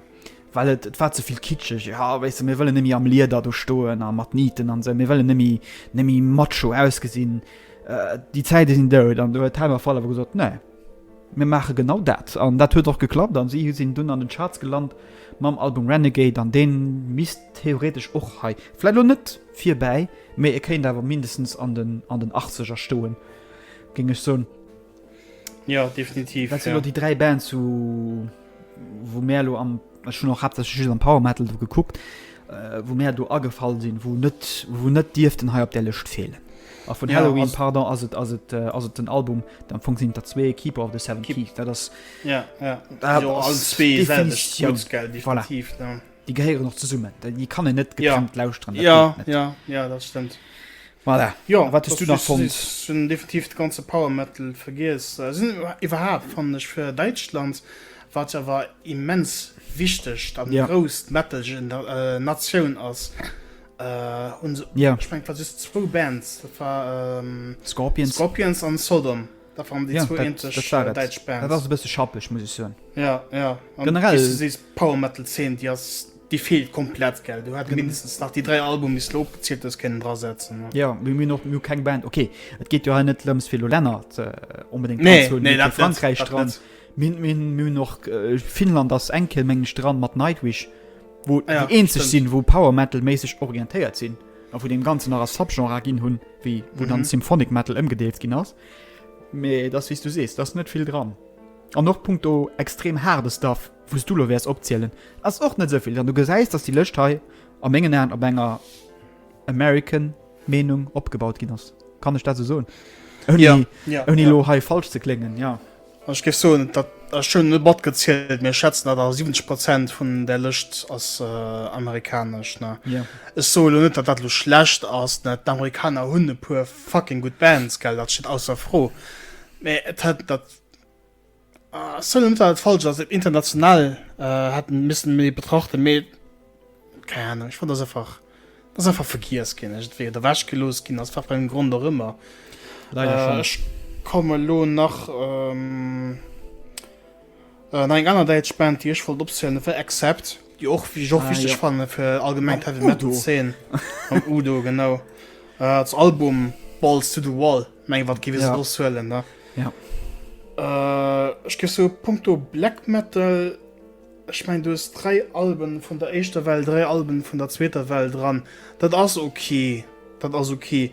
well et et war ze vill kitscheg, jo wéisst de mir wëllen net méi am Lieder do stoen a mat Niten an esou, mir wëllen net méi net méi macho ausgesinn. Déi Zäite sinn dout an do huet Hammerfall awer gesot, nee. Mir maache genau dat. An dat huet och geklappt a si sinn dunn an den Charts gelant mam Album Renegade an dee misst theoretesch och hei, vläicht elo net virbäi, mee e kéint awer mindestens an den Achtzeger stoen, géing ech soen. Jo, definitiv. Dat sinn elo déi dräi Bands u. wou mär elo am ech hunn och haaptsächlech just am Power Metal do gekuckt, äh, wou mär do agefall sinn, wou net wou net dierften hei op där Lëscht feelen. A vun Ja, Halloween, also- pardon, ass et ass et äh, ass et den Album, deen am Fong sinn der zwee Keeper of the Seven Keep- Keys. Dat ass Ja, ja. Dat Jo, ass all zwee selwecht definitiv- Guts, gell, voilà. definitiv, ne? Déi gehéieren och zesummen, déi kann en net getrennt ja. lauschteren. Ja, ja, ja, dat stimmt. Voilà. Ja, wat du nach fond hun definitiv de ganze Powermetal vergiess äh, sinn iwwerhaapt fan ech fir Deitschland wat ja war immens wichteg dat ja. grost Metalgen der äh, Natioun ass äh, un ja. ich mein, wat zwo Bands war ähm, Scorpions. Scorpions an Sodom. Dat waren déi zwou eenzeg däitsch Bands. Dat ass e bësse schappeg, muss ech soen. Ja, ja. Generell. Wéi du sees, d'Power-Metal-Zeen, déi ass, déi feelt komplett, gell. Du hätt mindestens nach déi dräi Albumen, déi s de opgezielt hues, kënnen drasetzen. Ja, mee mir hunn och, mir hu keng Band. Okay, et geet jo hei net drëms, fir elo Länner onbedéngt anzehunn. Nee, nee, dat net. Mir hu Frankräich dran. Mir, mir, mir hunn och, Finnland ass enke, meng ech, dran, mat Nightwish, wou déi eenzeg sinn, wou Power-Metal-méisseg orientéiert sinn. A wou deem Ganzen nach a Subgenrer ginn hunn, wéi wou dann mhm. Symphonic Metal ëmgedeelt ginn ass. Mee dat wies du sees, dat net vill dran. An noch Punkt o extrem harde Staff, wouss du lo wärs opzielen. ass och net sovill, dann du gesäis, datt die Lëcht hei a mengen Aen op enger American Meenung opgebaut ginn ass. Kann ech dat se soen? Oni ja, ja, lo ja. hei falsch ze klengen. Ja. Ech géif soen, dat ech schon net matgezielt, mir schätzen dat a 70 Prozent vun der Lëscht ass äh, amerikanesch. Ne? Ja. Ech so lo net, dat dat lo schlecht ass. Ne? D'Amerikaner hunn e puer fucking gut Bands, gell, dat steet ausser Fro. Mä et hat dat ah, soll net dat falsch ass international äh, hat missen méi betrachten méi Keng Ahnung, ech fand dass einfach, dass einfach vergiess ginn ass, entweder ewech gelooss ginn ass, wat fir engem Grond och ëmmer. Leider schon. Ech komme elo nach no eng aner däitsch Band, déi ech wollt opzielen, dat war Accept, déi och, déi ech och wichteg Ah, jo. fanne fir allgemeng Mam d'Heavy Metal Udo. Zeen. Mam Udo, genau. Als Album Balls to the Wall, meng wat géif ee se Ja. soss huelen, ne? Ja. Ech géif soe, punkto Black Metal, Ech mengen, du hues dräi Alben vun der éischter Well, dräi Alben vun der zweeter Well dran. Dat ass ok. Dat ass ok.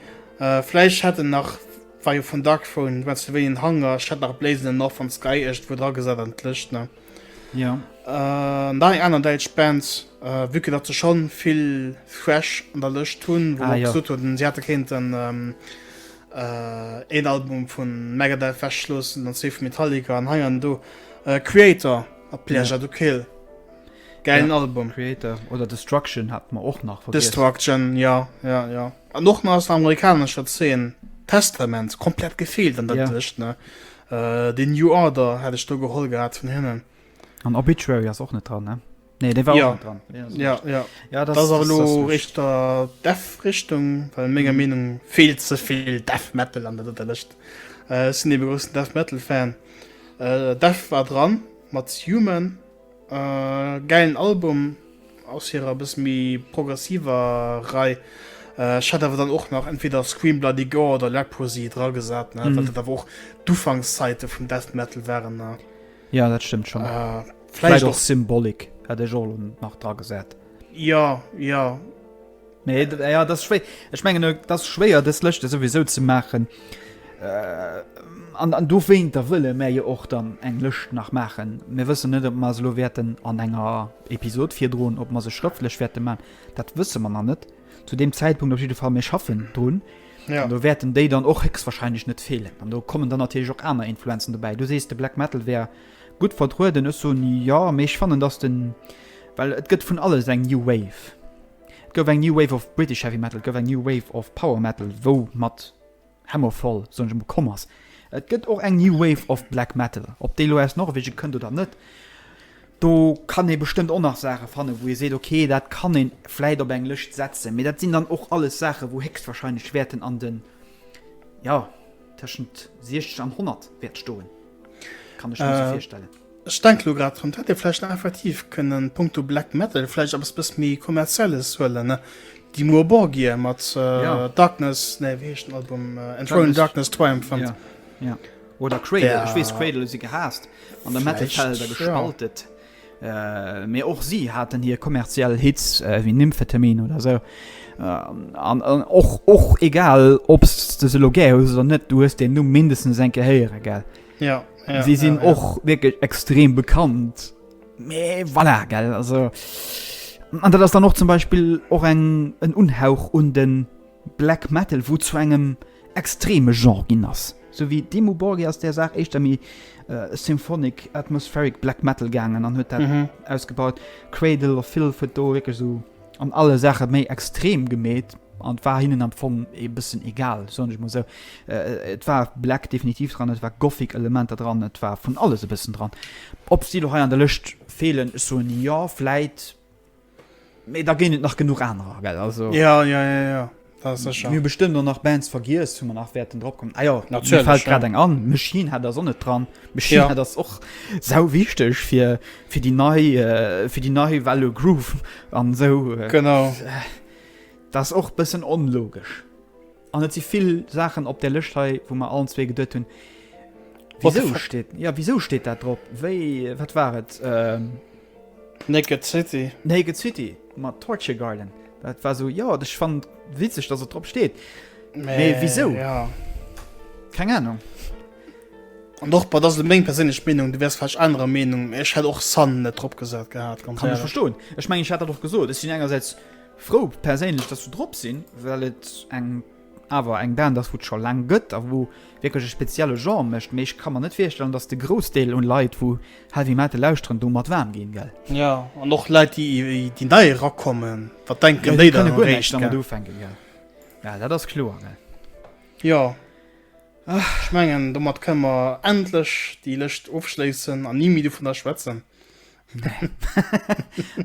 Vläicht hätt en nach, war jo vun Darkthrone, wat se wéi en Hanger, ech hätt nach Blaze in the North an Sky iergendwou dra gesat an d'Lëscht, ne? Jo. An dann eng aner däitsch Band, vue que datt se scho vill Thrash an der Lëscht hunn, wou mer och gesot hunn, si hätte kéinten. Een Album vu Megadeth wechschlossen, dann zwee vu Metallica an hei an do Kreator a Pleasure to Kill. Gäilen ja, Album. Creator oder Destruction hat man och nach vergessen. Destruction, ja, ja, ja. An och nach aus der amerikanischer Szene Testament komplett gefehlt an der ja. Tisch, ne? Äh, den New Order hätte ich da geholt gehabt von hinnen. An Obituary ist auch nicht dran, ne? Nee, der war ja. dran ja, ja, ja. ja das, das, das, das richter def richtung weil mega mhm. meinung viel zu viel def metal an der list äh, sind die begrüßten def metal fan äh, def war dran mat human äh, geilen album aus ihrer bis wie progressiver rei äh, hat aber dann auch noch entweder screen bloody go oder leprosy dra gesagt mhm. da wo du fangszeit von def metal waren ne? Ja dat stëmmt schon vläicht och Symbolik hat ech och nach dra gesat. Ja ja. Nee ja dat schwéi Ech mengen dat schwéier dës Lëschte souwisou ze maachen. Äh, an, an do wéint der wëlle mä je och dann eng Lëscht nach maachen. Mir wëssen net op Maselo wäerten an enger Episod virdroen, op ma se schrëftlech wäerte man, dat wësse man an net. zu dem Zeitpunkt op jeden Fall mir schaffen drun ja. du werden déi dann och hex wahrscheinlich net fehlen an du kommen dann natürlich auch aner Influenzen dabei du sest de Black metalal wär gut vertruden ist so nie ja mech fanen das den weil et gëtt vun alles eng new wave go new wave of British heavy metal go new wave of power metal wo mat Hammerfall soen ech emol, komm ass. Et gëtt och eng New Wave of Black Metal. Ob déi elo aus Norwegen kënnt oder net, do kann ee bestëmmt och nach Saache fannen, wou ee seet, ok, dat kann een vläit op eng Lëscht setzen. Mee dat sinn dann och alles Saachen, wou héchstwahrscheinlech wäerten an den, ja, tëschent 60 an 100 wäert stoen, kann ech mir esou virstellen. Ech denke lo grad drun, et hätt ee vläicht nach effektiv kënnen punkto Black Metal vläicht eppes bësse méi Kommerzielles huelen, Dimmu Borgir mat Darkness, nee wéi heescht den Album, Enthroned in Darkness, Triumphant. Jo, oder Cradle, ech weess Cradle hu si gehaasst an der Metal-Welt a gespaltet, mee och si haten hir kommerziell Hits wéi Nymphetamine oder sou. An och, och egal ob s de se elo gär hues oder net, du hues deen Numm mindestens eng Kéier héiere, gell? Ja, ja, sie sinn ja, ja. och wirklich extrem bekannt Mais voilà, gell also an dat ass dann noch zum Beispiel och eng en Unhauch un den Black Metal wo zu engem extreme Genre ginn ass so wie Demo Borgi ass der Saach éischter mi äh, Symphonic atmospheric Black Metal gaangen an huet dat mhm. ausgebaut Cradle of Filth huet do wirklich so an alle Saache méi extrem gemeet an et war hinnen am Fong ee bëssen egal, soen ech mol esou. Et war Black definitiv dran, et war Gothic Elementer dran, et war vun alles e bëssen dran. Ob si lo hei an der Lëscht feelen, ech soen jo, vläit, mee da géing et nach genuch anerer, gell, also. Jo, jo, jo, jo. Dat ass sécher. Mir bestëmmt och nach Bands vergiess, wou mer nach wäerten drop kommen. Ah jo, mir fält grad eng an, Machine Head ass och net dran. Machine Head ass och sau wichteg fir, fir déi nei, fir déi nei Welle Groove an esou. Genau. Dat ass och bëssen onlogesch. An et si vill Saachen op där Lëscht hei, wou mer allen zwee geduet hunn, Wisou steet, ja wisou steet dat drop? Wéi, wat war et? Naked City. Naked City mat Torture Garden. Dat war so ja dech fan witzeg dat se drop steet mee wisou keng Ahnung. An och bei dat meng perséinlech Meenung du wärs falsch anerer Meenung ech hätt och Sun net drop gesat gehat ganz kann ech verstoen ech meng ech hat dat och gesot ech sinn engersäits frou perséinlech dat se drop sinn well et eng awer eng Band ass wou et scho laang gëtt a wou wierklech e spezielle Genre mécht, mee ech ka mer net virstellen dass de Groussdeel un Leit wou Heavy Metal lauschteren domat waarm ginn, gell? Jo, an och Leit déi nei erakommen, wat denken déi dann eréischt, gell? Jo, dat ass kloer, gell? Jo, ech mengen domat kënne mer endlech déi Lëscht ofschléissen an ni méi dovunner schwätzen. Nee.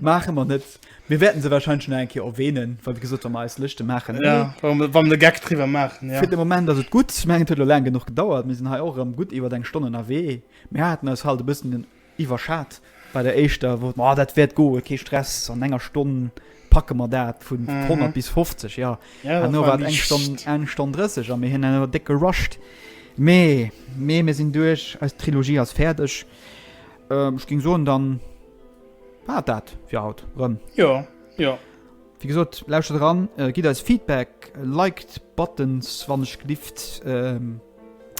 Maache mer net. Mir wäerten se warscheinlech nach eng Kéier erwähnen, well wéi gesot, wa mer eis Lëschte maachen. Ja, wa mer, wa mer de Gag driwwer maachen, ja. Fir de Moment ass et gutt. Ech mengen, et huet elo laang genuch gedauert. Mir sinn hei och erëm gutt iwwert eng Stonn ënnerwee. Mir haten eis halt e bëssen iwwerschat bei der éischter, wou et, ma dat wäert goen, kee Stress, an enger Stonn packe mer dat, vu 100 bis 50, ja. Ja, dat Herno war war et eng Stonn, liicht. eng Stonn 30 a mir hunn awer déck gerusht. Mee, mee mir sinn duerch, eis Trilogie ass fäerdeg. Ähm, ech ging soen dann war dat fir haut rëm. Jo, jo. Wie gesot lauschtert eran, äh, gitt eis Feedback, liked Buttons wann ech gelift. Ähm,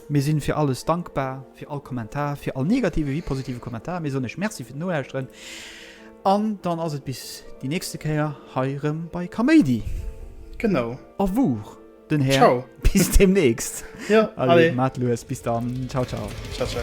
mir sinn fir alles dankbar, fir all Kommentar, fir all negative wie positive Kommentar. Mir soen ech Merci fir d'Nolauschteren. An dann ass et bis déi nächste Kéier hei rëm bei Kaméidi. Genau. Au revoir. Den Här. Ciao. Bis demnächst. Ja, alle. alle. Macht los. Bis dann. Ciao, ciao. Ciao, ciao.